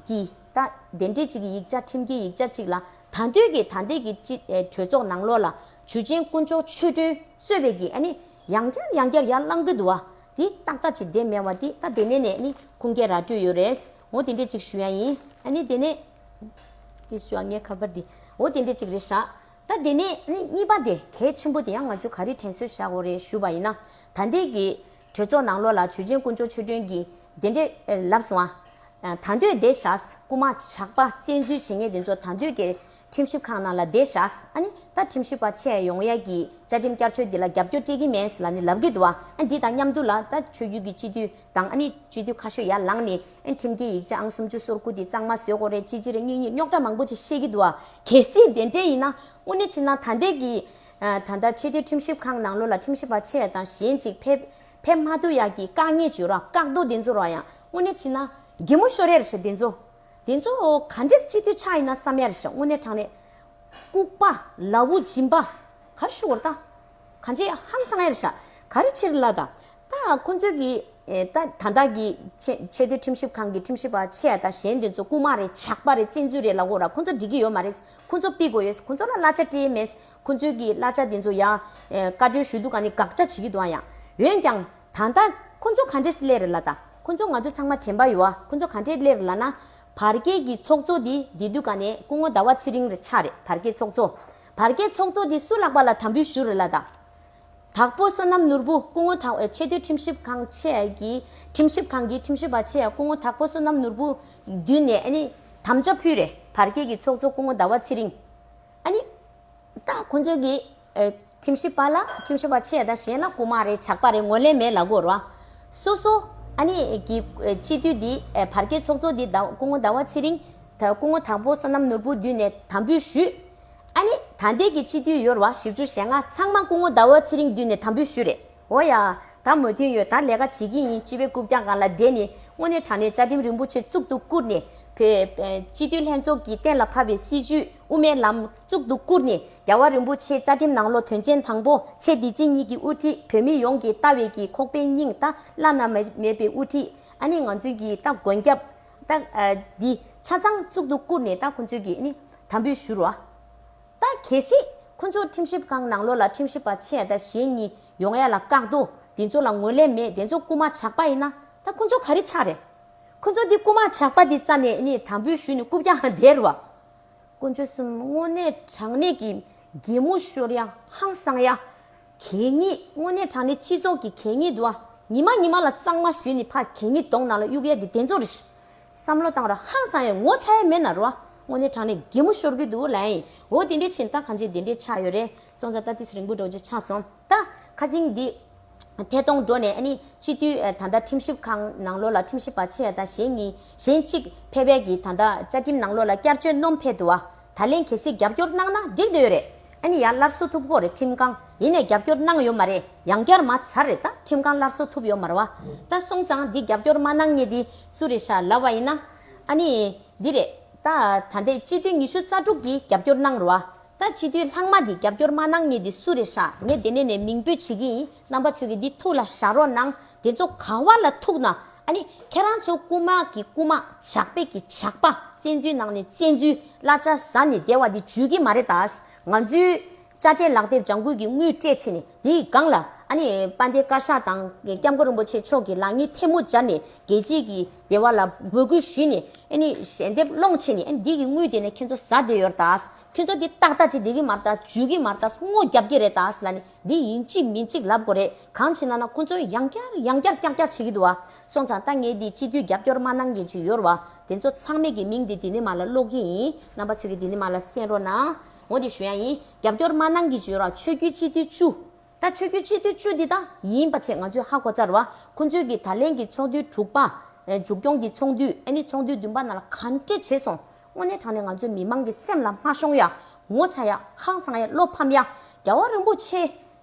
ཀྱི་ད་དེ་འདྲས་ཅིག་གི་ཡིག་ཆ་ཁྲིམས་ཀྱི་ཡིག་ཆ་ཅིག་ལ་ད་འདོད་ཀྱི་ད་ལྟའི་ཀྱི་སྤྱི་གྲོས་ཚོགས་ནང་ལོགས་ལ་ཇུས་ཆེན་དཀོན་མཆོག་ཆོས་སྒྲོན་གསོལ་བས་ཀྱི་ཨ་ནི་ཡང་བསྐྱར་ཡང་བསྐྱར་ཡར་བསླང་གི་འདུག་བ། འདི་ཏག་ཏག་ཅིག་བདེན་མེད་བ་འདི་ད་དེ་ནས་ནས་ནི་ཁུངས་སྐྱེལ་ར་སྤྲོད་ཡོད་རེད། འོ་དེ་འདྲས་ཅིག་ཞུ་ཡ་ཡིན། ཨ་ནི་དེ་ནས། ཀྱི་ཞུ་ཡ་ངའི་ཁ་པར་འདི། འོ་དེ་འདྲས་ཅིག་རེད་བཞག། ད་དེ་ནས་ནི་གཉིས་པ་དེ་གལ་ཆེན་པོ་དེ་ཡང་ང་ཚོས་ག་རེ་དྲན་གསོས་བཞག་འོ་རེད་ཞུ་བ་ཡིན་ན། ད་ལྟའི་གི། གྲོས་ཚོགས་ནང་ལོགས་ལ་ཇུས་ཆེན་དཀོན་མཆོག་ཆོས་སྒྲོན་གྱིས་དེ་འདྲས་ལབ་སོང་ཨ། ད་འདོད་བདེ་བཞག། སྐུ་མ་ཇག་པ་བཙན་འཛུལ་བྱེད་ངེས་དེ་ཚོ་ད་འདོད་གི། ཁྲིམས་ཞིབ་ཁང་ནང་ལ་བསྡད་བཞག་ཨ་ནི་ད་ཁྲིམས་ཞིབ་པ་ཆེ་ཡོང་ཡ་གི་བཅའ་ཁྲིམས་བསྐྱར་བཅོས་འདི་ལ་རྒྱབ་སྐྱོར་སྤྲད་ཀྱི་མེད་ལ་ནི་ལབ་གི་འདུག་ཨ་འདི་དང་མཉམ་དུ་ལ་ད་ཆོས་རྒྱུད་ཀྱི་སྤྱི་འཐུས་དང་ཨ་ནི་སྤྱི་འཐུས་ཁ་ཤོས་ཡར་ལངས་ནས་ཨ་ཁྲིམས་འདི་ཡིག་ཆ་ཨང་སུམ་ཅུ་སོར་དགུ་འདི་གཙང་མ་བཟོས་གོ་རེ་ཅི་ཅི་རེ་གཉིས་གཉིས་རྙོག་དྲ་མང་པོ་ཅིག་བཤད་ཀྱི་འདུག་གལ་སྲིད་དེ་འདྲས་ཡིན་ན་དངོས་གནས་ཕྱི་ནང་ཐ་འདས་ཀྱི་ད་ལྟ་ཆེས་མཐོའི་ཁྲིམས་ཞིབ་ཁང་ནང་ལོ་ལ་ཁྲིམས་ཞིབ་པ་ཆེ་དང་གཞན་ཅིག་ཕེབས་ཕེབས་མ་ཐུབ་ཡ་གི་བཀག་ཉེས་བྱོས་རོགས་བཀག་རྡོ་འདི་ཚོ་རོགས་ཡང་དངོས་གནས་ཕྱི་ནང་དགེ་མོ་ཤོ་རེར་ཞེས་འདི་ཚོ། དེ་ཚོ་ག་འདྲའི་སྤྱི་འཐུས་ཆགས་ཡིན་ན་བསམ་ཡ་རེད་ཤོག་དངོས་གནས་དྲང་གནས། ལྐུགས་པ། ལ་བུ་སྦྱིན་པ། ག་རེ་ཤོད་གོ་རེ་ད། ག་འདྲའི་ཧམ་སངས་ཡ་རེད་ཤག་ག་རེ་ཕྱིར་ལ་ད། ད་ཁོ་ཚོའི་གི་ད་ད་ལྟ་གི་ཆེས་མཐོའི་ཁྲིམས་ཞིབ་ཁང་གི་ཁྲིམས་ཞིབ་པ་ཆེ་ཡ་ད་གཞན་དེ་ཚོ་ལྐུགས་མ་རེད་ཇག་པ་རེད་བཙན་འཛུལ་རེད་ལ་གོ་ར་ཁོ་ཚོ་འགྲིག་གི་ཡོད་མ་རེད་ཁོ་ཚོ་དཔེ་དགོས་ཡོད་ཁོ་ཚོ་ལ་གླ་ཆ་སྤྲད་མེད་ཁོ་ཚོའི་གི་གླ་ཆ་དེ་ཚོ་ཡ། བཀའ་འཁྲོལ་ཞུས་འདུག་ག་ནི་དགག་བྱ་བྱེད་ཀྱི་འདུག་ཨ་ཡ། འོན་ཀྱང། ད་ལྟ་ཁོ་ཚོ་ག་འདྲས་སླེར་ལ་དང་ཁོ་ཚོ་ང་ཚོ་ཚང་མ་དྲན་པ་ཡོད་ཨ་ཁོ་ཚོ་ག་འདྲས་སླེར་ལ་ན། བར་བརྒལ་གྱི་ཚོགས་གཙོ་དེ་འདི་དུས་ག་ནས་སྐུ་ངོ་ཟླ་བ་ཚེ་རིང་རེད་ཆ་རེད་བར་བརྒལ་ཚོགས་གཙོ། བར་བརྒལ་ཚོགས་གཙོ་དེ་སུ་ལགས་པ་ལ་དམ་འབུལ་ཞུ་རེ་ལ་དང། དྭགས་པོ་བསོད་ནམས་ནོར་བུ་སྐུ་ངོ་དྭགས་པོའི་ཆེས་མཐོའི་ཁྲིམས་ཞིབ་ཁང་ཆེས་ཀྱི་ཁྲིམས་ཞིབ་ཁང་གི་ཁྲིམས་ཞིབ་པ་ཆེས་སྐུ་ངོ་དྭགས་པོ་བསོད་ནམས་ནོར་བུ་མདུན་ནས་ཨ་ནི་དམ་བཅའ་ཕུལ་རེ་བར་བརྒལ་གྱི་ཚོགས་གཙོ་སྐུ་ངོ་ཟླ་བ་ཚེ་རིང་ཨ་ནི། ད་ཁོ་ཚོ་གི། ཁྲིམས་ཞིབ་པ་ལ་ཁྲིམས་ཞིབ་པ་ཆེ་དང་གཞན་ལ་རྐུ་མ་རེད་ཇག་པ་རེད་ངོ་ལེན་མེད་ལ་སྒོར་བ། སོ་སོ། ཨ་ནི། གི། སྤྱི་འཐུས་འདི། བར་བརྒལ་ཚོགས་གཙོ་འདི། སྐུ་ངོ་ཟླ་བ་ཚེ་རིང། ད་སྐུ་ངོ་དང་པོ་བསོད་ནམས་ནོར་བུ་འདུས་ནས་དམ་འབུལ་ཞུས། ཨ་ནི། ད་འདས་ཀྱི་སྤྱི་འཐུས་ཡོར་བ་བཞི་བཅུ་ཞེ་ལྔ་ཚང་མ་སྐུ་ངོ་ཟླ་བ་ཚེ་རིང་འདུས་ནས་དམ་འབུལ་ཞུས་རེད། འོ་ཡ། ད་མོས་མཐུན་ཡོད་ད་ལས་ཀ་བྱེད་ཀྱི་ཡིན་སྤྱི་བའི་རྐུབ་བཀྱག་གང་ལ་བསྡད་ནས་དངོས་གནས་དྲང་གནས་བཅའ་ཁྲིམས་རིན་པོ་ཆེ་གཙུག་ཏུ་བཀུར་ནས་བོད། སྤྱི་འཐུས་ལྷན་ཚོགས་ཀྱི་གཏན་ལ་ཕབ་པའི་སྲིད་བྱུས་དབུ་མའི་ལམ། གཙུག་ཏུ་བཀུར་ནས་རྒྱལ་བ་རིན་པོ་ཆེའི་བཅའ་ཁྲིམས་ནང་ལོ་དོན་ཚན་དང་པོ་ཚེ་འདི་ཅི་ཉིད་ཀྱི་དབུ་ཁྲིད་བོད་མི་ཡོངས་ཀྱི་ལྟ་བའི་གྱི་ཁོག་པའི་སྙིང་རྟ་བླ་ན་མེད་པའི་དབུ་ཁྲིད་ཨ་ནི་ང་ཚོའི་གྱི་ད་མགོན་སྐྱབས་ད་འདི་ཆ་ཚང་གཙུག་ཏུ་བཀུར་ནས་ད་ཁོང་ཚོའི་གྱི་ཨ་ནི་དམ་འབུལ་ཞུ་རོགས་ཨ་ད་གལ་སྲིད་ཁོང་ཚོ་ཁྲིམས་ཞིབ་ཁང་ནང་ལོ་ལ་ཁྲིམས་ཞིབ་པ་ཆེ་ཡ་ད་གཞན་གཉིས་ཡོང་ཡ་ལ་བཀག་རྡོ་དེ་ཚོ་ལ་ངོས་ལེན་མེད་དེ་ཚོ་རྐུ་མ་ཇག་པ་ཡིན་ན་ད་ཁོང་ཚོ་ག་རེ་ཆགས་རེད་ཁོང་ཚོ་འདི་རྐུ་མ་ཇག་པ་འདི་རྩ་ནས་ཨ་ནི་དམ་འབུལ་ཞུ་ནས་རྐུ་བརྒྱག་འདེད་རོགས། དཀོན་མཆོག་གསུམ་དངོས་གནས་དྲང་གནས་ཀྱི་རྒྱལ་མོ་ཤོར་ཡ་ཧང་སང་ཡ། གད་སྙིགས་དངོས་གནས་དྲང་གནས་སྤྱི་ཚོགས་ཀྱི་གད་སྙིགས་དུ་བ་ཉི་མ་ཉི་མ་ལ་གཙང་མ་བཟོས་ནས་ཕ་གད་སྙིགས་དོང་ནང་ལ་གཡུགས་ཡ་དེ་དེ་ཚོ་རེད། བསམ་བློ་བཏང་ར་ཧང་སང་ཡ་ངོ་ཚ་ཡ་མེད་ན་རུ་བ་དངོས་གནས་དྲང་གནས་རྒྱལ་མོ་ཤོར་གི་འདུག་ལན། འོ་དེ་འདྲའི་ཆེ་ད་གང་ཆེ་དེ་འདྲའི་ཆགས་ཡོད་རེད་སོང་ཙང་ད་དེ་སི་རིང་པོ་འགྲོ་རྗེས་ཆགས་སོང། ད། ཁ་ཟིང་འདི། ཐད་གཏོང་འགྲོ་ནས་ནི། སྤྱི་འཐུས་ད་ལྟ་ཁྲིམས་ཞིབ་ཁང་ནང་ལོགས་ལ་ཁྲིམས་ཞིབ་པ་ཕྱེ་ད་གཞན་གཉིས། གཞན་གཅིག། ཕལ་པལ་གྱིས་ད་ལྟ་བཅའ་ཁྲིམས་ནང་ལོགས་ལ་བསྐྱར་བཅོས་ནོམ་ཕལ་དུ་བ། ད་ལན་གལ་སྲིད་རྒྱབ་སྐྱོར་གནང་ན་འགྲིག་འདོད་རེད། ཨ་ནི་ཡ་སླར་གསོ་ཐུབ་གོ་རེད་ཁྲིམས་ཁང་ཡིན་ནས་རྒྱབ་སྐྱོར་གནང་ཡོད་མ་རེད་ཡང་བསྐྱར་མ་ཚར་རེད་ད་ཁྲིམས་ཁང་སླར་གསོ་ཐུབ་ཡོད་མར་བ། ད་སོང་ཙང་འདི་རྒྱབ་སྐྱོར་མ་གནང་ངེས་འདི་སུ་རེད་ཤ་ལབ་བ་ཡིན་ན། ཨ་ནི། འདི་རེད། ད། ད་ལྟའི་སྤྱི་འཐུས་ཉི་ཤུ་རྩ་དྲུག་གིས་རྒྱབ་སྐྱོར་གནང་རུ་བ། ད་ཕྱི་དུས་ལྷག་མ་འདི་རྒྱབ་སྐྱོར་མ་གནང་ངེས་འདི་སུ་རེད་ཧྲ་ངས་དེ་ནས་ནས་མིང་འབོད་བྱེད་ཀྱི་ཡིན་རྣམ་པ་ཆོས་ཀྱི་འདི་ཐུགས་ལ་བཞག་རོགས་གནང་དེ་ཚོ་ག་བ་ལ་ཐུགས་ན་ཨ་ནི་ཁྱེད་རང་ཚོ་རྐུ་མ་གི་རྐུ་མ་ཇག་པས་ཀྱི་ཇག་པ་བཙན་འཛུལ་ནང་ནས་བཙན་འཛུལ་གླ་ཆ་ཟ་ནས་བསྡད་བ་འདི་བརྗོད་ཀྱི་མ་རེད་ད་ང་ཚོའི་དཔྱ་ཁྲལ་ལག་དེབ་ལྗང་ཁུ་གི་དངུལ་སྤྲད་ཆེ་ནས་དེ་ཡི་སྒང་ལ་ཨ་ནི་དཔའ་འདེ་བཀའ་ཤག་དང་སྐྱབས་མགོན་རིན་པོ་ཆེ་མཆོག་གི་ལག་གཉིས་ཐལ་མོ་སྦྱར་ནས་རྒྱལ་གཅེས་ཀྱི། རྒྱལ་བ་ལ་འབོད་སྐུལ་ཞུས་ནས་ཨནི་ཞལ་འདེབས་སློང་ཆེད་ནས་ཨནི་འདི་གི་དངུལ་དེ་ནི་ཁྱེད་ཚོ་ཟ་བསྡད་ཡོད་རེད་དཱ། ཁྱེད་ཚོ་འདི་ཏག་ཏག་ཅིག་འདེབས་ཀྱི་མ་རེད་དཱ་འཇུས་ཀྱི་མ་རེད་དཱ་སྔོ་རྒྱབ་ཀྱི་རེད་དཱ་ལ་ནི་འདི་ཡིན་གཅིག་མིན་གཅིག་ལབ་དགོས་རེད་གང་བྱས་ན་ན་ཁོང་ཚོས་ཡང་བསྐྱར་ཡང་བསྐྱར་ཀྱག་ཀྱག་བྱེད་ཀྱི་འདུག་བ་སོང་ཙང་ད་ངས་འདི་སྤྱི་འཐུས་རྒྱབ་སྐྱོར་མ་གནང་མཁན་ཅིག་ཡོད་རེད་བ་དེ་ཚོ་ཚང་མས་ཀྱི་མིང་འདི་འདི་ནི་མ་ལ་ཀློག་གི་ཡིན་རྣམ་པ་ཚོས་ཀྱི་འདི་ནི་མ་ལ་གསན་རོགས་གནང། འོ་དེ་ཞུ་ཡང་ཡིན་རྒྱབ་སྐྱོར་མ་གནང་གི་ཅིག་ཡོད་ར་ཆོས་རྒྱུད་སྤྱི་འཐུས་བཅུ། ད་ཆོས་རྒྱུད་སྤྱི་འཐུས་བཅུ་འདི་དག་ཡིན་པ་ཆེས་ང་ཚོས་ཧ་གོ་རྩ་རུ་ཨ་ཁོ་ཚོའི་གི་ད་ལན་གི་ཚོགས་འདུའི་དྲུག་པ། མཇུག་སྐྱོང་གི་ཚོགས་འདུ་ཨེ་ནི་ཚོགས་འདུའི་བདུན་པ་ན་ལ་ག་འདྲས་བྱས་སོང་དངོས་གནས་དྲང་ནས་ང་ཚོའི་མི་མང་གི་སེམས་ལ་མ་ཤོང་ཡ། ངོ་ཚ་ཡ། ཧང་སང་ཡ་བློ་ཕམ་ཡ། རྒྱལ་བ་རིན་པོ་ཆེ།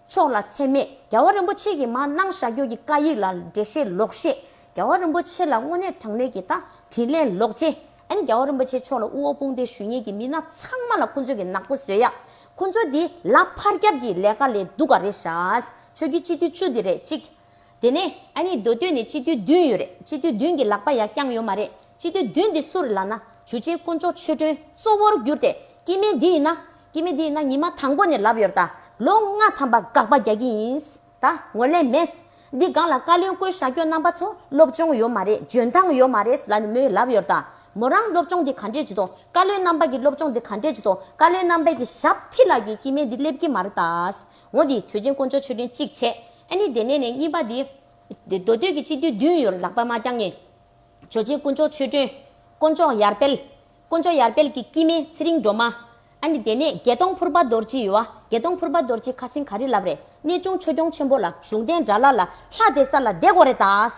མཆོག་ལ་ཚད་མེད་རྒྱལ་བ་རིན་པོ་ཆེ་གི་མ་གནང་བཞག་རྒྱུ་གི་བཀའ་ཡིག་ལ་འགྲེལ་བཤད་ལོག་བཤད་རྒྱལ་བ་རིན་པོ་ཆེ་ལ་དངོས་གནས་དྲང་གནས་གི་ད་དྲིན་ལན་ལོག་བྱེད། ཨ་ནི་རྒྱལ་བ་རིན་པོ་ཆེ་མཆོག་ལ་དབུ་འོག་དཔུང་སྡེ་ཞུ་གཉེར་གྱི་མི་སྣ་ཚང་མ་ལ་ཁོ་ཚོས་གི་ནག་པོ་བཟོས་ཡག་ཁོ་ཚོ་འདི་ལ་ཕར་རྒྱབ་གི་ལས་ཀ་ལས་སྡུག་ག་རེད་ཤཱས་ཆོས་ཀྱི་སྤྱི་འཐུས་བཅུ་འདི་རེད་གཅིག། དེ་ནས་ཨ་ནི་མདོ་སྟོད་ནས་སྤྱི་འཐུས་བདུན་ཡོད་རེད་སྤྱི་འཐུས་བདུན་གི་ལག་པ་ཡ་རྐྱང་ཡོད་མ་རེད་སྤྱི་འཐུས་བདུན་འདི་སུ་རེད་ལ་ན་ཇུ་ཆེན་དཀོན་མཆོག་ཆོས་སྒྲོན་གཙོ་བོར་གྱུར་ཏེ་སྐྱེས་དམན་འདི་ཡིན་ན་སྐྱེས་དམན་འདི་ཡིན་ན་ཉི་མ་དང་པོ་ནས་ལབ་ཡོད་རེད་ད་ལོ་ལྔ་ཐམ་པ་དགག་པ་རྒྱག་གི་ཡིན། ད་ངོ་ལས་མེད། འདི་སྒང་ལ་བཀའ་བློན་བསྐོས་ཤག་ཁྱོད་རྣམ་པ་ཚོ་སློབ་སྦྱོང་ཡོད་མ་རེད་འཇོན་ཐང་ཡོད་མ་རེད་ལ་ནི་མོས་ལབ་ཡོད་ད། མོ་རང་སློབ་སྦྱོང་དེ་ག་འདྲས་བགྱིས་དོ་བཀའ་བློན་རྣམ་པ་གི་སློབ་སྦྱོང་དེ་ག་འདྲས་བགྱིས་དོ་བཀའ་བློན་རྣམ་པས་གི་ཞབས་མཐིལ་ལག་གི་སྐྱི་མེ་འདི་སླེབས་ཀྱི་མ་རེད་ད། ངོ་དེ་དྲོས་ཆེན་དཀོན་མཆོག་མཆོད་སྤྲིན་གཅིག་བྱས་ཨ་ནི་དེ་ནས་ནས་གཉིས་པ་དེ། མདོ་སྟོད་ཀྱི་སྤྱི་འཐུས་བདུན་ཡོད་ལག་པ་མ་བརྐྱང་ངས། དྲོས་ཆེན་དཀོན་མཆོག་མཆོད་སྤྲིན། དཀོན་མཆོག་ཡར་སྤེལ། དཀོན་མཆོག་ཡར་དཔལ་གྱི་སྐྱིད་མེད་ཚེ་རིང་སྒྲོལ་མ། ཨ་ནི་དེ་ནས་དགེ་མཐོང་ཕུར་པ་རྡོར་སྐྱིད་ཡོད། དགེ་མཐོང་ཕུར་པ་རྡོར་སྐྱིད་ཁ་སིང་ག་རི་ལབ་རེད་གནས་ཆུང་ཆོས་སྐྱོང་ཆེན་པོ་ལ་གཞུང་རྟེན་འདྲ་ལ་ལ་ལྷ་དེ་ས་ལ་འདེགས་གོ་རེ་དྭས།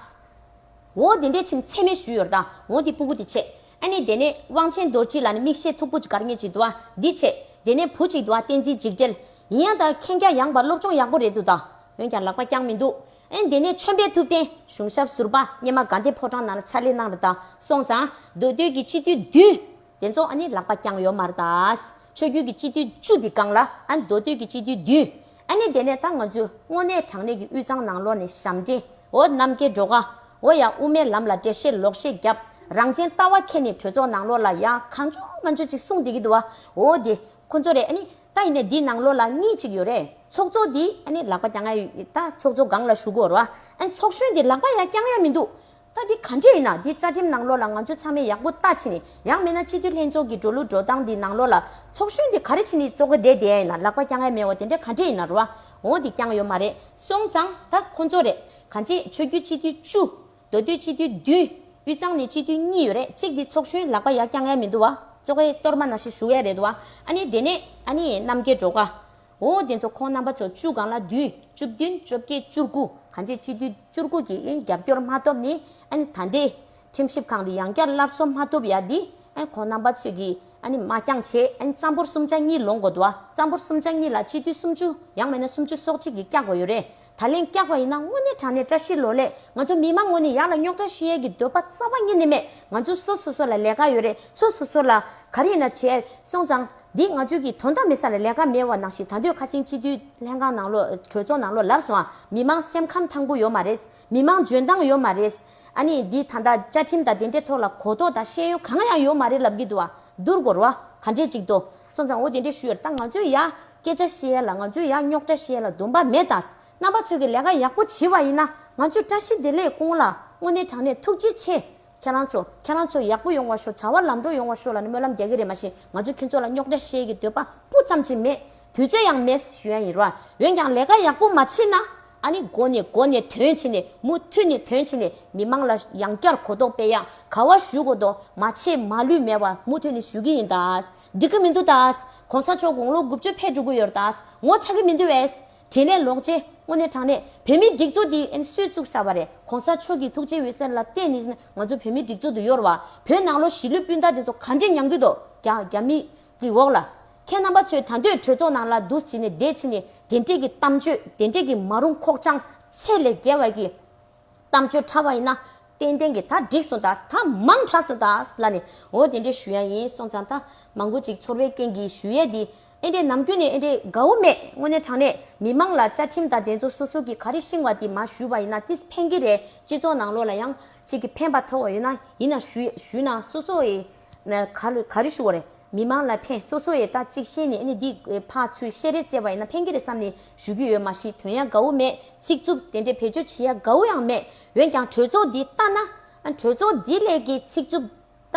འོ་དེ་འདྲས་ཕྱིན་ཚད་མེད་ཞུས་ཡོད་དྭ་འོ་དེ་སྤུ་བུ་དེ་ཆད། ཨ་ནི་དེ་ནས་དབང་ཆེན་རྡོར་སྐྱིད་ལ་ནི་མིག་ཤེལ་མཐུག་པོ་གཅིག་གར་ངེས་ཅིག་དུའ་འདི་ཆད། དེ་ནས་བུ་གཅིག་དུའ་བསྟན་འཛིན་འཇིགས་བྲལ། ཡིན་ཡང་དྭ་མཁྱེན་རྒྱ་ཡངས་པ་སློབ་སྦྱོང་ཡག་པོ་རེད་འདུག་དྭ། འོན་ཀྱང་ལག་པ་རྐྱང་མི་འདུག། ཨན་དེ་ནས་མཆོད་འབེབས་ཐུབ་བསྟན་གཞུང་ཞབས་ཟུར་པ་སྙེ་མ་དགའ་ལྡན་ཕོ་བྲང་ནང་ལ་ཕྱག་ལས་གནང་ར་དག་སོང་ཙང་མདོ་སྟོད་ཀྱི་སྤྱི་འཐུས་བདུན། དེ་ཚོ་ཨ་ནི་ལག་པ་བརྐྱངས་ཡོད་མ་ར་དག་ཆོས་རྒྱུད་ཀྱི་སྤྱི་འཐུས་བཅུ་དེ་བཀང་ལ་ཨན་མདོ་སྟོད་ཀྱི་སྤྱི་འཐུས་བདུན། ཨ་ནི་དེ་ནས་ད་ང་ཚོས་དངོས་གནས་དྲང་གནས་ཀྱི་དབུས་གཙང་ནང་ལོག་ནས་ཞབས་འདྲེན་འོ་གནམ་སྐྱེ་འགྲོ་ག་འོ་ཡ་དབུ་མའི་ལམ་ལ་འགྲེལ་བཤད་ལོག་བཤད་རྒྱབ་རང་བཙན་ལྟ་བ་ཁྱེད་ནས་གྲོས་ཚོགས་ནང་ལོག་ལ་ཡ་གང་བྱུང་ང་ཚོས་ཅིག་གསུངས་དེ་གི་འདུག་བ་འོ་དེ་ཁོ་ཚོ་རེད་ཨ་ནི། ད་ཡིན་ནའི་འདི་ནང་ལོ་ལ་གཉིས་གཅིག་ཡོད་རེད་ཚོགས་གཙོ་འདི་ཨ་ནི་ལག་པ་རྐྱང་ཡ་ཡོད་ད་ཚོགས་གཙོ་སྒང་ལ་ཞུགས་དགོས་ར་ཨ་ནི་ཚོགས་གཞོན་འདི་ལག་པ་ཡ་རྐྱང་ཡ་མི་འདུག་ད་འདི་ག་འདྲས་ཡིན་ན་འདི་བཅའ་ཁྲིམས་ནང་ལོ་ལ་ང་ཚོས་ཚང་མས་ཡག་པོ་ལྟ་ཕྱིན་ནས་ཡག་མེད་ན་སྤྱི་འཐུས་ལྷན་ཚོགས་ཀྱི་འགྲོ་ལུགས་འགྲོ་སྟངས་འདི་ནང་ལོ་ལ་ཚོགས་གཞོན་འདི་ག་རེ་ཕྱིན་ནས་གཙོ་ག་འདྲས་འདས་ཡ་ཡིན་ན་ལག་པ་རྐྱང་ཡ་མེད་བ་དེ་འདྲས་ག་འདྲས་ཡིན་ན་ར་འོ་འདི་རྐྱང་ཡོད་མ་རེད་སོང་ཙང་ད་ཁོང་ཚོ་རེད་ག་འདྲས་ཆོས་རྒྱུད་སྤྱི་འཐུས་བཅུ། མདོ་སྟོད་སྤྱི་འཐུས་བདུན། དབུས་གཙང་ནས་སྤྱི་འཐུས་གཉིས་ཡོད་རེད་གཅིག་འདི་ཚོགས་གཞོན་ལགས་པ་ཡ་ཀྱང་ཡ་མི་འདུག་བ། ཙོ་ཀའི་གཏོར་མ་ན་ཤི་བཞུགས་ཡ་རེད་བ། ཨ་ནི་དེ་ནས་ཨ་ནི་རྣམ་རྒྱལ་འགྲོ་ཀ། འོ་དེ་ཚོ་ཁོང་རྣམ་པ་ཚོ་བཅུ་གང་ལ་བདུན། བཅུ་བདུན་བཅོ་བརྒྱད་བཅུར་དགུ་གང་ཅི་སྤྱི་འཐུས་བཅུར་དགུ་གྱི་ཨེ་རྒྱབ་སྐྱོར་མ་ཐོབ་ནི་ཨ་ནི་ད་འདི། ཁྲིམས་ཞིབ་ཁང་དེ་ཡང་བསྐྱར་སླར་གསོ་མ་ཐུབ་ཡ་འདི། ཨེ་ཁོང་རྣམ་པ་ཚོས་གི་ཨ་ནི་མ་རྐྱང་བྱས་ཨེ་ནི་རྩམ་ཕོར་སུམ་ཆ་གཉིས་ལོངས་དགོས་འདུག་བ་རྩམ་ཕོར་སུམ་ཆ་གཉིས་ལ་སྤྱི་འཐུས་སུམ་ཅུ་ཡང་མེད་ན་སུམ་ཅུ་སོག་གཅིག་གི་བཀྱག་དགོས་ཡོད་རེད། ད་ལན་སྐྱག་པ་ཡིན་ན་དངོས་གནས་དྲང་གནས་བཀྲ་ཤིས་ལོ་ལེགས་ང་ཚོ་མི་མང་ངོ་ནས་ཡག་ལ་རྙོག་དྲ་ཤི་ཡལ་གི་འདོད་པ་རྩ་བ་གཉིས་ནས་མེད་ང་ཚོ་སོ་སོ་སོ་ལ་ལས་ཀ་ཡོད་རེད་སོ་སོ་སོ་ལ་ག་རེ་ཡིན་ན་བྱས་སོང་ཙང་འདི་ང་ཚོའི་གི་དོན་དག་མེད་ས་ལ་ལས་ཀ་མེད་བ་ནང་བཞིན་ད་འདོད་ཁ་སེང་སྤྱི་འཐུས་ལྷན་ཁང་ནང་ལོག་གྲོས་ཚོགས་ནང་ལོག་ལབ་སོང་ཨ་མི་མང་སེམས་ཁམས་ཐང་པོ་ཡོད་མ་རེད་མི་མང་འཇོན་ཐང་ཡོད་མ་རེད་ཨ་ནི་འདི་ད་ལྟ་བཅའ་ཁྲིམས་དང་དེ་འདྲའི་ཐོག་ལ་གོ་རྟོགས་དང་ཤེས་ཡོན་གང་ཡང་ཡོད་མ་རེད་ལབ་གི་འདུག་ཨ་འདུར་གོ་རོ་ཨ་ག་འདྲས་ཅིག་འདུག་སོང་ཙང་འོ་དེ་འདྲས་ཞུ་ཡོད་རེད་ད་ང་ཚོའི་ཡ། སྐད་ཆ་བཤད་ཡ་ལ་ང་ཚོས་ཡག་རྙོག་དྲ་བཤད་ལ་འདུམ་པ་མེད་དང་རྣམ་པ་ཚོས་ཀྱི་ལས་ཀ་ཡག་པོ་བྱི་བ་ཡིན་ན་ང་ཚོས་བཀྲ་ཤིས་བདེ་ལེགས་སྐོང་ལ་དངོས་གནས་དྲང་གནས་ཐུགས་རྗེ་ཆེ། ཁྱེད་རང་ཚོ་ཁྱེད་རང་ཚོ་ཡག་པོ་ཡོང་བ་ཤོག་བྱ་བ་ལམ་འགྲོ་ཡོང་བ་ཤོག་ལ་ནི་སྨོན་ལམ་རྒྱག་གི་རེད་མ་གཞི་ང་ཚོས་ཁྱེད་ཚོ་ལ་རྙོག་དྲ་བཤད་ཀྱི་འདོད་པ་སྤུ་ཙམ་གྱིས་མེད་དུས་ཚོད་ཡང་མེད་ཞུ་ཡ་ཡིན་རོགས་འོན་ཀྱང་ལས་ཀ་ཡག་པོ་མ་བྱེད་ན་ཨ་ནི་མགོ་ནས་མགོ་ནས་དོན་བྱེད་ནས་མུ་མཐུད་ནས་དོན་བྱེད་ནས་མི་མང་ལ་ཡང་བསྐྱར་གོ་རྟོགས་སྤེལ་ཡག་ག་བ་ཞུ་གོ་རྟོགས་མ་བྱེད་མ་ལུས་མེད་བ་མུ་མཐུད་ནས་ཞུ་གི་ཡིན་དཱ། འགྲིག་གི་མི་འདུག་ད། གོང་ས་མཆོག་དགུང་ལོ་དགུ་བཅུ་ཕེབས་འགྲོ་གི་ཡོད་ད། ངོ་ཚ་གི་མི་འདུག་བས། དྲིན་ལས་ལོག་རྗེས། དངོས་གནས་དྲང་གནས། བོད་མིའི་སྒྲིག་འཛུགས་འདི་ཨེན་སུས་བཙུགས་ཤག་པ་རེད། གོང་ས་མཆོག་གི་ཐུགས་རྗེའི་འོད་ཟེར་ལ་བརྟེན་ནས་ང་ཚོ་བོད་མིའི་སྒྲིག་འཛུགས་འདི་གཡོར་བ། བོད་ནང་ལོ་བཞི་ལོའི་སྤུན་ཟླ་དེ་ཚོ་ག་འདྲའི་ཉམས་རྒུད་དོ། རྒྱ་མི། གི་འོག་ལ། ཁྱེད་རྣམ་པ་ཚོས་ད་འདོད་གྲོས་ཚོགས་ནང་ལ་འདུ་བྱེད་ནས་བསྡད་ཕྱིན་ནས་དེ་འདྲས་ཀྱི་གཏམ་བརྗོད་དེ་འདྲས་ཀྱི་མ་རུང་ཁོག་བཅང་ཚད་ལས་རྒྱལ་བ་གི། གཏམ་བརྗོད་ཕྲ་བ་ཡིན་ན། ཏན་ཏན་གྱིས་ད་འགྲིག་སོང་ད་ད་མང་དྲགས་སོང་ད་ལ་ནས་འོ་དེ་འདྲའི་ཞུ་ཡ་ཡིན་སོང་ཙང་ད་མང་པོ་ཅིག་ཚོར་བའི་རྐྱེན་གྱིས་ཞུ་ཡས་འདི་ཨེ་འདྲས་ནམ་རྒྱུན་ནས་ཨེ་འདྲས་དགའ་བོ་མེད་དངོས་གནས་དྲང་གནས་མི་མང་ལ་བཅའ་ཁྲིམས་དང་དེ་ཚོ་སོ་སོ་གྱིས་ག་རེ་ཤིང་བ་དེ་མ་ཞུས་པ་ཡིན་ན་ཏིས་ཕན་གྱི་རེད་སྤྱི་ཚོགས་ནང་ལོགས་ལ་ཡང་ཅིག་གི་ཕན་པ་ཐོག་བ་ཡོད་ན་ཡིན་ན་ཞུས་ན་སོ་སོ་ཡི། ག་རེ་ཞུ་བ་རེད་མི་མང་ལ་ཕན་སོ་སོ་ཡེ་ད་ཅིག་ཤེས་ནས་ཨནི་འདི་ཕག་ཚུལ་བཤད་རེད་ཙེ་བ་ཡེ་ན་ཕན་གི་རེད་བསམ་ནས་ཞུ་གི་ཡོད་མ་གཞི་དོན་ཡ་གའུ་མེད་ཚིག་རྩུབ་དེ་འདྲའི་བེད་སྤྱོད་བྱེད་ཡ་གའུ་ཡང་མེད་འོན་ཀྱང་གྲོས་ཚོགས་འདི་ལྟ་ན་གྲོས་ཚོགས་འདི་ལས་ཀྱི་ཚིག་རྩུབ་ལྟ་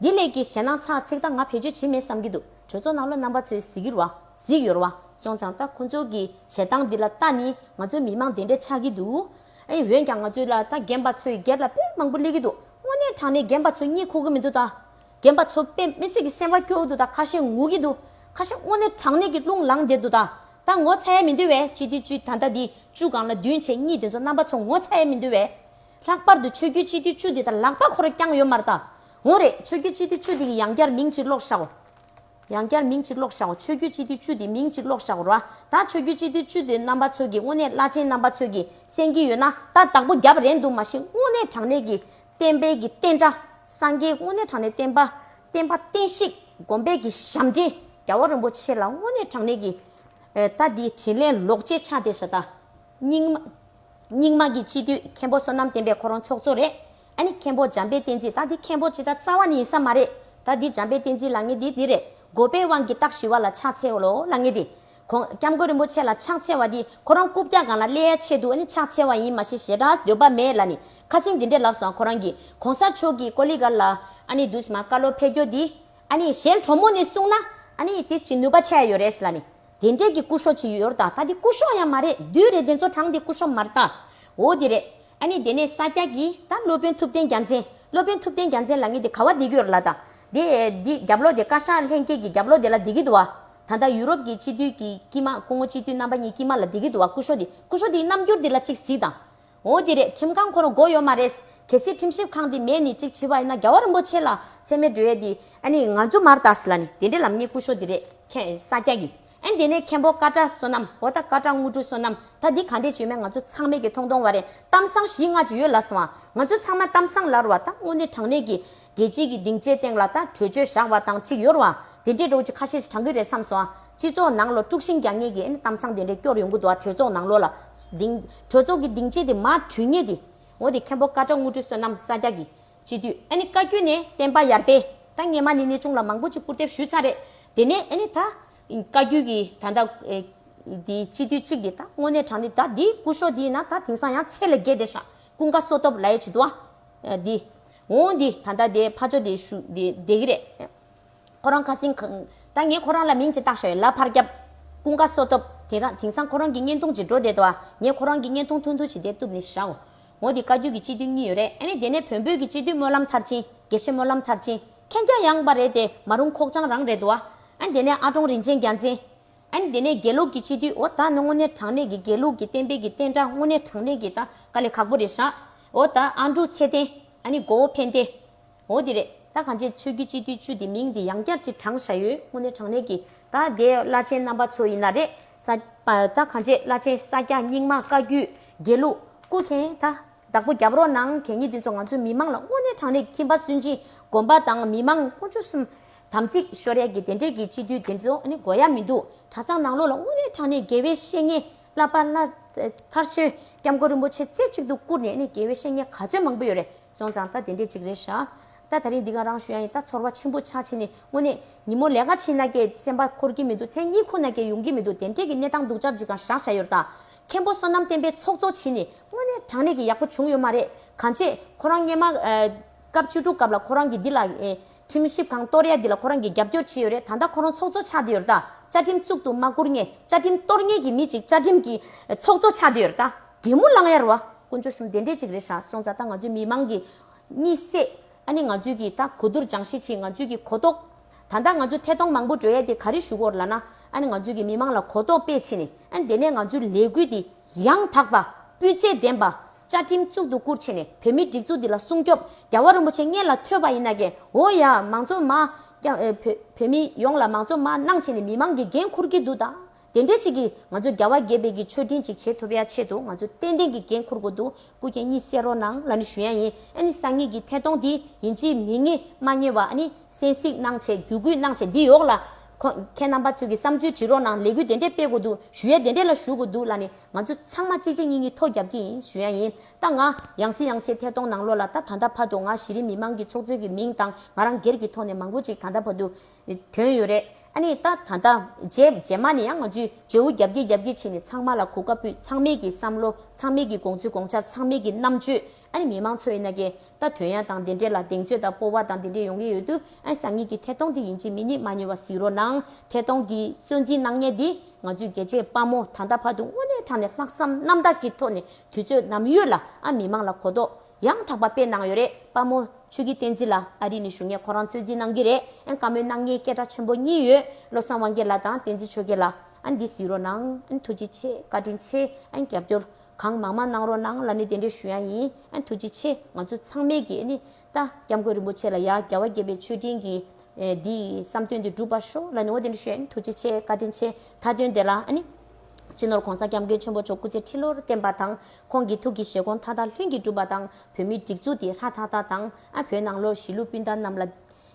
འདི་ལས་ཀྱི་ཞེ་སྣང་ཚག་ཚིག་ལྟ་ང་བེད་སྤྱོད་བྱེད་མེད་བསམ་གི་འདུག་གྲོས་ཚོགས་ནང་ལོ་རྣམ་པ་ཚོའི་གཟིགས་ཡུར་བ་གཟིགས་ཡོར་བ་སོང་ཙང་ལྟ་ཁོང་ཚོ་གི་བྱེད་སྟངས་འདི་ལ་ལྟ་ནི་ང་ཚོ་མི་མང་དེ་འདྲ་ཆགས་ཀྱི་འདུག་ཨེ། འོན་ཀྱང་ང་ཚོའི་ལ་ད་རྒན་པ་ཚོའི་སྒེར་ལ་དཔེ་མང་པོ་གླེགས་ཀྱི་འདུག་དངོས་གནས་དྲང་གནས་རྒན་པ་ཚོ་གཉིད་ཁུག་གི་མི་འདུག་ད། རྒན་པ་ཚོ་དཔེ་མི་སྲིད་ཀྱི་སེམས་བ་སྐྱོ་གི་འདུག་ད་ཁ་ཤས་ངུ་གི་འདུག་ཁ་ཤས་དངོས་གནས་དྲང་གནས་ཀྱི་རླུང་ལངས་བསྡད་འདུག་ད། ད་ངོ་ཚ་ཡས་མི་འདུག་བས་སྤྱི་འཐུས་བཅུ་ད་ལྟ་འདི་བཅུ་གང་ལ་བདུན་བྱས་གཉིས་དེ་ཚོ་རྣམ་པ་ཚོ་ངོ་ཚ་ཡས་མི་འདུག་བས། ལྷག་པར་དུ་ཆོས་རྒྱུད་སྤྱི་འཐུས་བཅུ་དེ་ད་ལག་པ་ཁོ་ར་བསྐྱངས་ཡོད་མ་རེད་ད། འོ་རེད་ཆོས་རྒྱུད་སྤྱི་འཐུས་བཅུ་དེ་ཡི་ཡང་བསྐྱར་མིང་ཕྱིར་ལོག་ཤའོ། ཡང་བསྐྱར་མིང་གཅིག་ཀློག་བཞག་གོ་ཆོས་རྒྱུད་སྤྱི་མཐུས་བཅུ་དེ་མིང་གཅིག་ཀློག་བཞག་གོ་རོ། ད་ཆོས་རྒྱུད་སྤྱི་མཐུས་བཅུ་དེ་རྣམ་པ་ཚོལ་གྱི་དངོས་གནས་བླ་ཆེན་རྣམ་པ་ཚོལ་གྱི་གསན་གྱི་ཡོད་ན་ད་བདག་པོ་རྒྱབ་རན་འདུག་མ་གཞི་དངོས་གནས་དྲང་གནས་ཀྱི་བསྟན་དཔལ་གྱི་བསྟན་དགྲ། སངས་རྒྱས་དངོས་གནས་དྲང་གནས་བསྟན་པ། བསྟན་པ་བསྟན་བཤིག་སྒོམ་སྤེལ་གྱི་ཞབས་འདྲེན་རྒྱ་བོ་རིན་པོ་ཆེ་ལ་དངོས་གནས་དྲང་གནས་ཀྱི། ད་འདིའི་དྲིན་ལན་ལོག་ཅེས་ཕྱག་འདེབས་བྱ་ད། རྙིང་མ་རྙིང་མ་གྱི་སྤྱི་མཐུས་མཁན་པོ་བསོད་ནམས་བསྟན་པའི་ཁོ་རང་ཚོགས་གཙོ་རེད། ཨ་ནི་མཁན་པོ་འཇམ་དཔལ་བསྟན་འཛིན་ད་འདི་མཁན་པོ་ཇི་ལྟར་རྩ་བ་ནི་ཡིན་ས་མ་རེད། ད་འདི་འཇམ་དཔལ་བསྟན་འཛིན་ལ་ངེས་འདི་འདི་རེད། འགོ་པའི་དབང་གི་རྟགས་ཞི་བ་ལ་ཕྱག་འཚལ་བ་ལོ་ལ་ངེས་འདི། ཁོང ྋསྐྱབས་མགོན་རིན་པོ་ཆེ་ལ་ཕྱག་འཚལ་བ་འདི་ཁོ་རང་རྐུབ་བཀྱག་གང་ལ་སླེ་ཡའི་ཆེད་དུ་ཨ་ནི་ཕྱག་འཚལ་བ་ཡིན་མ་ཤེས་ཞེ་དྲགས་འདོད་པ་མེད་ལ་ནི་ཁ་སིང་འདི་འདྲས་ལབ་སང་ཁོ་རང་གི ྋགོང་ས་མཆོག་གི་ཀོ་ལི་ག་ལ་ཨ་ནི་དུས་མ་ཀ་ལོ་ཕེ་ཀྱོ་འདི་ཨ་ནི་གཞན་གྲོ་མོ་ནས་གསུངས་ན་ཨ་ནི་དེ་ཅི་ནུས་པ་བྱས་ཡོད་རེད་ལ་ནི་དེ་འདྲས་ཀྱི་སྐུ་ཤོག་ཅི་ཡོད་ཡོད་རྟགས་ད་འདི་སྐུ་ཤོག་ཡང་མ་རེད་འདུས་རེད་འདི་ཚོ་གྲངས་འདི་སྐུ་ཤོག་མ་རྟགས་འོ་འདི་རེད། ཨ་ནི་དེ་ནས་ས་སྐྱ་གིས་ད་སློབ་དཔོན་ཐུབ་བསྟན་རྒྱ་མཚན། སློབ་དཔོན་ཐུབ་བསྟན་རྒྱ་མཚན་ལ་ངས་དེ་ག་བ་འདི་གྱོད་ལ་དང། དེ། འདི་རྒྱབ་ལོག་དེ་བཀའ་ཤག་ལྷན་རྒྱས་ཀྱི་རྒྱབ་ལོག་དེ་ལ་འདི་གི་འདུག་བ། ད་ལྟ་ཡུ་རོབ་ཀྱི་སྤྱི་འཐུས་ཀྱི་དཀྱིལ་མ་སྐུ་ངོ་སྤྱི་འཐུས་རྣམ་པ་གཉིས་དཀྱིལ་མ་ལ་འདི་གི་འདུག་བ་སྐུ་ཤོག་འདི་སྐུ་ཤོག་འདིའི་རྣམ་འགྱུར་འདི་ལ་གཅིག་གཟིགས་དང། འོ་དེ་རེད་ཁྲིམས་ཁང་ཁོ་རང་འགོ་ཡོད་མ་རེད། གལ་སྲིད་ཁྲིམས་ཞིབ་ཁང་འདི་མེད་ནི་གཅིག་ཆི་བ་ཡིན་ན་རྒྱལ་བ་རིན་པོ་ཆེ་ལ་ཚད་མའི་འགྲོས་འདི། ཨ་ནི་ང་ཛུ་མར་ཏཱས་ལ་ནི་དེ་འདྲའི་ལམ་གཉིས་སྐུ་ཤོག་འདི་རེད། ཁྱེད་ས་སྐྱ་གིས། ཨེ་འདི་ནས་མཁན་པོ་ཀ་བཀྲ་བསོད་ནམས་ཧོར་ཟླ་ཀ་བཀྲ་དངོས་གྲུབ་བསོད་ནམས་ད་འདི་ག་འདྲས་བྱོས་མེད་ང་ཚོ་ཚང་མས་ཀྱི་ཐོང་ཐོང་བ་རེད་གཏམ་བཟང་བཞི་ལྔ་བྱོས་ཡོད་ལ་སོང་བ་ང་ཚོ་ཚང་མ་གཏམ་བཟང་ལར་བ་ད་དངོས་གནས་དྲང་གནས་ཀྱི་རྒྱལ་སྤྱིའི་ཀྱི་སྡིངས་ཆའི་སྟེང་ལ་ད་གྲོས་ཆོད་བཞག་བ་དང་ཆིག་ཡོར་བ་དེ་འདྲས་འགྲོ་གི་ཁ་ཤས་ཤིག་དྲང་གི་རེད་བསམ་སོང་སྤྱི་ཚོགས་ནང་ལོ་དཀྲུགས་ཤིང་རྒྱག་ངེས་ཀྱི་ཨེ་ནས་གཏམ་བཟང་དེ་འདྲས་སྐྱོར་ཡོང་གི་འདུག་ཨ་གྲོས་ཚོགས་ནང་ལོ་ལ་སྡིངས་གྲོས་ཚོགས་ཀྱི་སྡིངས་ཆའི་དེ་མ་དྲུས་ངེས་དེ་འོ་དེ་མཁན་པོ་ཀ་བཀྲ་དངོས་གྲུབ་བསོད་ནམས་ས་སྐྱ་ཀྱི་སྤྱི་འཐུས་ཨ་ནི་བཀའ་བརྒྱུད་ནས་བསྟན་པ་ཡར་སྤེལ་ད་ངེད་མ་ནི་གནས་ཆུང་ལ་མང་པོ་ཅིག་སྐུར་འདེབས་ཞུས་ཚར་རེད་དེ་ནས་ཨ་ནི་ད། བཀའ་བརྒྱུད་ཀྱི་ད་ལྟ། འདི་སྤྱི་འཐུས་གཅིག་འདི་ད་དངོས་གནས་དྲང་ནི་ད་འདི་སྐུ་ཤོག་འདི་ན་ད་དེང་སང་ཡང་ཚད་ལས་བརྒལ་བསྡད་ཤག་ཀུན་དགའ་བསོད་སྟོབས་ལའེ་བྱེད་དུ་ཨ། འདི། འོ་འདི་ད་ལྟ་དེ་ཕ་ཅོ་དེ་ཞུ་འདི་བསྡད་གི་རེད། ཁོ་རང་ཁ་སིང། ད་ངས་ཁོ་རང་ལ་མིང་ཅིག་བཏགས་ཤོག་ཡ་ལ་ཕར་རྒྱབ། ཀུན་དགའ་བསོད་སྟོབས་དེང་རང་དེང་སང་ཁོ་རང་གི་བརྙན་ཐུང་ཅིག་འགྲོ་བསྡད་དོ་ཨ་ངས་ཁོ་རང་གི་བརྙན་ཐུང་ཐུང་ཐུང་ཞིག་དེ་བཏུབ་ནི་ཤག་ཨོ། འོ་འདི་བཀའ་བརྒྱུད་ཀྱི་སྤྱི་འཐུས་གཉིས་ཡོད་རེད་ཨ་ནི་དེ་ནས་བོན་བོད་ཀྱི་སྤྱི་འཐུས་སྨོན་ལམ་མཐར་ཕྱིན་དགེ་བཤེས་སྨོན་ལམ་མཐར་ཕྱིན་མཁན་སྐྱ་ཡངས་པ་རེད་དེ་མ་རུང་ཁོག་བཅང་རང་རེད་འདུག་ཨ་ནི་དེ་ནས་ཨ་ཀྲོང་རིན་ཆེན་རྒྱ་མཚན། ཨ་ནི་དེ་ནས་དགེ་ལུགས་ཀྱི་སྤྱི་འཐུས་འོ་ད་ནི་དངོས་གནས་དྲང་གནས་ཀྱི་དགེ་ལུགས་ཀྱི་བསྟན་དཔེ་ཀྱི་བསྟན་དགྲ་དངོས་གནས་དྲང་གནས་ཀྱི་ད་ག་ལེ་ཁག་པོ་རེད་ཧྲ་འོ་ད་ཨ་འབྲུག་ཚེ་བརྟན་ཨ་ནི་མགོ་བོ་འཕེན་ཏེ། འོ་དེ་རེད། ད་གང་ཆེ་ཆོས་རྒྱུད་སྤྱི་འཐུས་བཅུ་དེ་མིང་དེ་ཡང་བསྐྱར་གྱི་གྲངས་བཞག་ཡོད་དངོས་གནས་དྲང་གནས་ཀྱི། ད་དེ་བླ་ཆེན་རྣམ་པ་ཚོ་ཡིན་ན་རེད། ས་ད་གང་ཆེ་བླ་ཆེན་ས་སྐྱ་རྙིང་མ་བཀའ་བརྒྱུད་དགེ་ལུགས། སྐུ་མཁྱེན་ད། བདག་པོ་རྒྱབ་རོགས་གནང་གད་སྙིགས་འདི་ཚོ་ང་ཚོའི་མི་མང་ལ་དངོས་གནས་དྲང་གནས་ཁྱིམ་པ་སུན་འབྱིན་སྒོམ་པ་དང་མི་མང་དཀོན་མཆོག་གསུམ། དམ་ཚིག་ཤོར་ཡས་ཀྱི་དེ་འདྲས་ཀྱི་སྤྱི་འཐུས་དེ་ཚོ་ནི་དགོས་ཡ་མི་འདུག་གྲྭ་ཚང་ནང་ལོག་ལ་དངོས་གནས་དྲང་གནས་དགེ་བའི་བཤེས་གཉེན་བླ་པ་བླ། མཐར་སོན་སྐྱབས་མགོན་རིན་པོ་ཆེ་རྩེ་གཅིག་ཏུ་བཀུར་ནས་ནི་དགེ་བའི་བཤེས་གཉེན་ག་ཚོད་མང་པོ་ཡོད་རེད། སོང་ཙང་རྟ་དེ་འདྲས་གཅིག་རེད་བཞག། རྟ་ད་རིང་འདི་ག་རང་ཞུ་ཡ་ཡིན་རྟ་ཚོར་བ་ཆེན་པོ་ཆགས་ཕྱིན་ནས་དངོས་གནས། ཉིན་མོ་ལས་ཀ་ཕྱིན་ན་སྐད་གསན་པ་འཁོར་གྱི་མི་འདུག་མཚན་གཉིས་ཁོ་ན་སྐྱེལ་ཡོང་གི་མི་འདུག་དེ་འདྲས་ཀྱི་གནས་སྟངས་འདུག་ཅག་ཅིག་གང་ཞག་བྱ་ཡོད་རྟ། མཁན་པོ་བསོད་ནམས་བསྟན་པའི་ཚོགས་གཙོ་ཕྱིན་ནས་དངོས་གནས་དྲང་གནས་ཀྱི་ཡག་པོ་བྱུང་ཡོད་མ་རེད་གང་བྱས། ཁོ་རང་སྙན་མ། སྐབས་བཅུ་དྲུག་སྐབས་ལ་ཁོ་རང་གིས་འདི་ལ། ཁྲིམས་ཞིབ་ཁང་གཏོར་ཡ་འདི་ལ་ཁོ་རང་གིས་རྒྱབ་སྐྱོར་བྱས་ཡོད་རེད་ད་ལྟ་ཁོ་རང་ཚོགས་གཙོ་ཆགས་བསྡད་ཡོད་རྟ། བཅའ་ཁྲིམས་བཙུགས་འདུག་མ་བསྐུར་ངས་བཅའ་ཁྲིམས་གཏོར་ངེས་ཀྱི་མི་ཅིག་བཅའ་ཁྲིམས་ཀྱི་ཚོགས་གཙོ་ཆགས་བསྡད་ཡོད་རྟ། དྲེད་མོ་གླང་གཡར་བ། དཀོན་མཆོག་གསུམ་བདེ་འབྲས་གཅིག་རེད་ཧྲ་སོང་ཙ་ད་ང་ཚོའི་མི་མང་གི། གཉིད་སད། ཨ་ནི་ང་ཚོའི་གི་ད་གོ་བསྡུར་སྦྱང་ཤེས་ཆེ་ང་ཚོའི་གི་གོ་རྟོགས། ད་ལྟ་ང་ཚོ་ཐད་གཏོང་མང་པོ་འགྲོ་ཡས་དེ་ག་རེ་ཞུ་གོ་ལ་ན། ཨ་ནི་ང་ཚོའི་གི་མི་མང་ལ་གོ་རྟོགས་སྤེལ་ཆེ་ནི་ཨ་ནི་དེ་ནས་ང་ཚོའི་ལས་འགུལ་དེ་ཡང་དག་པ། སྤུས་ཚད་ལྡན་པ། བཅའ་ཁྲིམས་གཙུག་ཏུ་བཀུར་ཆེ་ནི་བོད་མིའི་སྒྲིག་འཛུགས་འདི་ལ་སྲུང་སྐྱོབ། རྒྱ་བ་རིན་པོ་ཆེ་ངེད་ལ་ཐོས་པ་ཡིན་ན་གི་འོ་ཡ་མང་གཙོ་མ། བོད་མི་ཡོངས་ལ་མང་གཙོ་མ་གནང་ཆེ་ནི་མི་མང་གི་འགན་འཁུར་གི་འདུག་ད། དེ་འདྲའི་ཅིག་གིས་ང་ཚོས་རྒྱ་བལ་དགེ་བེད་ཀྱི་མཆོད་སྤྲིན་ཅིག་བྱེད་ཐུབ་ཡ་ཆེད་དུ་ང་ཚོས་ཏན་ཏན་གྱི་འགན་འཁུར་དགོས་འདུག་སྐུ་མཁྱེན་གཉིས་བསེ་རོག་ནང་ལ་ནི་ཞུ་ཡ་ཡིན་ཨ་ནི་སང་ཉིད་ཀྱི་ཐད་གཏོང་དེ་ཡིན་ཅི་མིན་ངས་མ་རྙེད་བ་ཨ་ནི་སེན་གཟིགས་གནང་བྱས་རྒྱུ་གུས་གནང་བྱས་འདི་ཡོག་ལ་ཁོ་མཁྱེན་རྣམ་པ་ཚོས་ཀྱི་བསམ་ཚུལ་བྲི་རོག་གནང་ལས་འགུལ་དེ་འདྲས་སྤེལ་དགོས་འདུག་ཞུ་ཡ་དེ་འདྲས་ལ་ཞུ་དགོས་འདུག་ལ་ནི་ང་ཚོ་ཚང་མ་གཅིག་གཅིག་གཉིས་གཉིས་ཐོ་རྒྱབ་ཀྱི་ཡིན་ཞུ་ཡ་ཡིན་ད་ང་ཡང་སེ་ཡང་སེ་ཐད་གཏོང་གནང་ལོ་ལ་ད་ད་ལྟ་བར་དུ་ང་གཞི་རིམ་མི་མང་གི་ཚོགས་གཙོའི་གྱི་མིང་དང་ང་རང་སྒེར་གྱི་ཐོག་ནས་མང་པོ་ཅིག་ད་ལྟ་བར་དུ། དོན་ཡོད་རེད་ཨ་ནི་ད་ད་ལྟ་རྗེས་རྗེས་མ་ནས་ཡང་ང་ཚོས་རྗེ་བོ་རྒྱབ་ཀྱིས་རྒྱབ་ཀྱིས་བྱས་ནས་ཚང་མ་ལ་གོ་སྐབས་ཕུད་ཚང་མིག་གི་བསམ་བློ་ཚང་མིག་གི་དགོངས་ཚུལ་དགོངས་འཆར་ཚང་མིག་གི་རྣམ་དཔྱོད་ཨ་ནི་མི་མང་ཚོ་ཡིན་ན་ཀྱེ་ད་དོན་ཡང་དང་དེ་འདྲས་ལ་གདེང་ཚོད་དང་སྤོ་བ་དང་དེ་འདྲས་ཡོང་གི་ཡོད་དུས་ཨ་ནི་སང་ཉིན་གྱི་ཐད་གཏོང་དེ་ཡིན་གཅིག་མིན་གཉིས་མ་གཉིས་བ་གཟིགས་རོགས་གནང་ཐད་གཏོང་གི་གཙོས་འཛིན་གནང་ཉེས་འདི་ང་ཚོས་རྒྱལ་གཅེས་དཔའ་མོ་ད་ལྟ་བར་དུ་དངོས་གནས་དྲང་ནས་ལྷག་བསམ་རྣམ་དག་གི་ཐོག་ནས་དུས་ཚོད་ནམ་ཡོད་ལ་ཨ་མི་མང་ལ་གོ་རྟོགས་ཡང་དག་པ་དཔེ་གནང་ཡོད་རེད་དཔའ་མོ། ཆོས་ཀྱི་བསྟན་འཛིན་ལ་ཨ་རི་ནས་ཞུ་སྔས་ཁོ་རང་ཚོད་འཛིན་གནང་གི་རེད་ཨན་བཀའ་མོལ་གནང་མཁན་སྐད་གྲགས་ཆེན་པོ་གཉིས་ཡོད་བློ་བཟང་དབང་རྒྱལ་ལགས་དང་བསྟན་འཛིན་ཆོས་རྒྱལ་ལགས་ཨན་འདི་གཟིགས་རོགས་གནང་ཨན་ཐུགས་རྗེ་ཆེ་བཀའ་དྲིན་ཆེ་ཨན་རྒྱབ་སྐྱོར་གང་མང་མང་གནང་རོགས་གནང་ལ་ནི་དེ་འདྲས་ཞུ་ཡ་ཡིན་ཨན་ཐུགས་རྗེ་ཆེ་ང་ཚོ་ཚང་མས་ཀྱི་ནི་ད་སྐྱབས་མགོན་རིན་པོ་ཆེ་ལ་ཡ་རྒྱལ་བ་དགྱེས་པའི་མཆོད་སྤྲིན་གྱི་འདི་བསམ་དོན་འདི་འགྲུབ་པ་ཤོག་ལ་ནི་འོ་དེ་འདྲས་ཞུ་ཡ་ཡིན་ཐུགས་རྗེ་ཆེ་བཀའ་དྲིན་ཆེ་མཐའ་དོན་དེ་ལ་ནི། སྤྱི་ནོར་གོང་ས་སྐྱབས་མགོན་ཆེན་པོ་མཆོག་སྐུ་ཚེ་ཁྲི་ལོར་བརྟན་པ་དང་ཁོང་གི་ཐུགས་ཀྱི་བཞེད་དགོངས་མཐའ་དག་ལྷུན་གྱིས་གྲུབ་པ་དང་བོད་མི་སྒྲིག་འཛུགས་དེ་ལྷ་དྷ་ད་དང་ཨ་བོད་ནང་ལོགས་གཞིས་ལུས་སྤུན་ཟླ་རྣམས་ལ།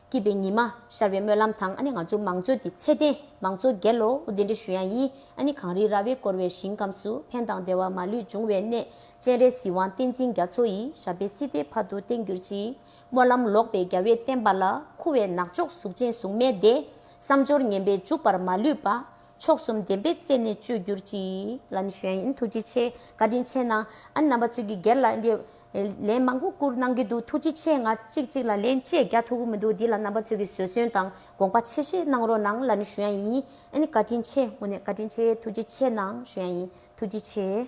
སྐྱིད་པའི་ཉི་མ་ཤར་བའི་སྨོན་ལམ་དང་ཨ་ནི་ང་ཚོ་མང་གཙོ་དེ་ཚད་ལྡན་མང་གཙོ་རྒྱལ་ལོ་འུ་དེ་འདྲ་ཞུ་ཡང་ཡིན་ཨ་ནི་གངས་རི་ར་བས་བསྐོར་བའི་ཞིང་ཁམས་སུ་ཕན་དང་བདེ་བ་མ་ལུས་འབྱུང་བའི་གནས་སྤྱན་རས་གཟིགས་དབང་བསྟན་འཛིན་རྒྱ་མཚོ་ཡི་ཞབས་པད་སྲིད་མཐའི་བར་དུ་བརྟན་གྱུར་ཅིག་སྨོན་ལམ་ལོག་པའི་རྒྱ་བས་བསྟན་པ་ལ་འཁུ་བའི་ནག་ཕྱོགས་གཟུགས་ཅན་གཟུགས་མེད་དེ་བསམ་སྦྱོར་ངན་པས་འཇུག་པར་མ་ལུས་པ། མཆོག་གསུམ་བདེན་པའི་རྩེ་ནས་སྤྱོད་གྱུར་ཅིག། ལ་ནི་ཞོན་ཨིན་ཐུགས་རྗེ་ཆེ་བཀའ་དྲིན་ཆེ་གནང། ཨ་ནི་རྣམ་པ་ཚོས་ཀྱི་སྒེར་ལ་འདི། ལན་མང་པོ་བསྐུར་གནང་གི་འདུག་ཐུགས་རྗེ་ཆེ་ང་གཅིག་གཅིག་ལ་ལན་བཅས་རྒྱག་ཐུབ་ཀྱི་མི་འདུག་འདི་ལ་རྣམ་པ་ཚོས་ཀྱི་བཟོད་བསྲོན་དང་དགོངས་པ་ཆེ་བཞེས་གནང་རོགས་གནང་ལ་ནི་ཞོན་ཨིན། ཨ་ནི་བཀའ་དྲིན་ཆེ་དངོས་གནས་བཀའ་དྲིན་ཆེ་ཐུགས་རྗེ་ཆེ་གནང་ཞོན་ཨིན་ཐུགས་རྗེ་ཆེ།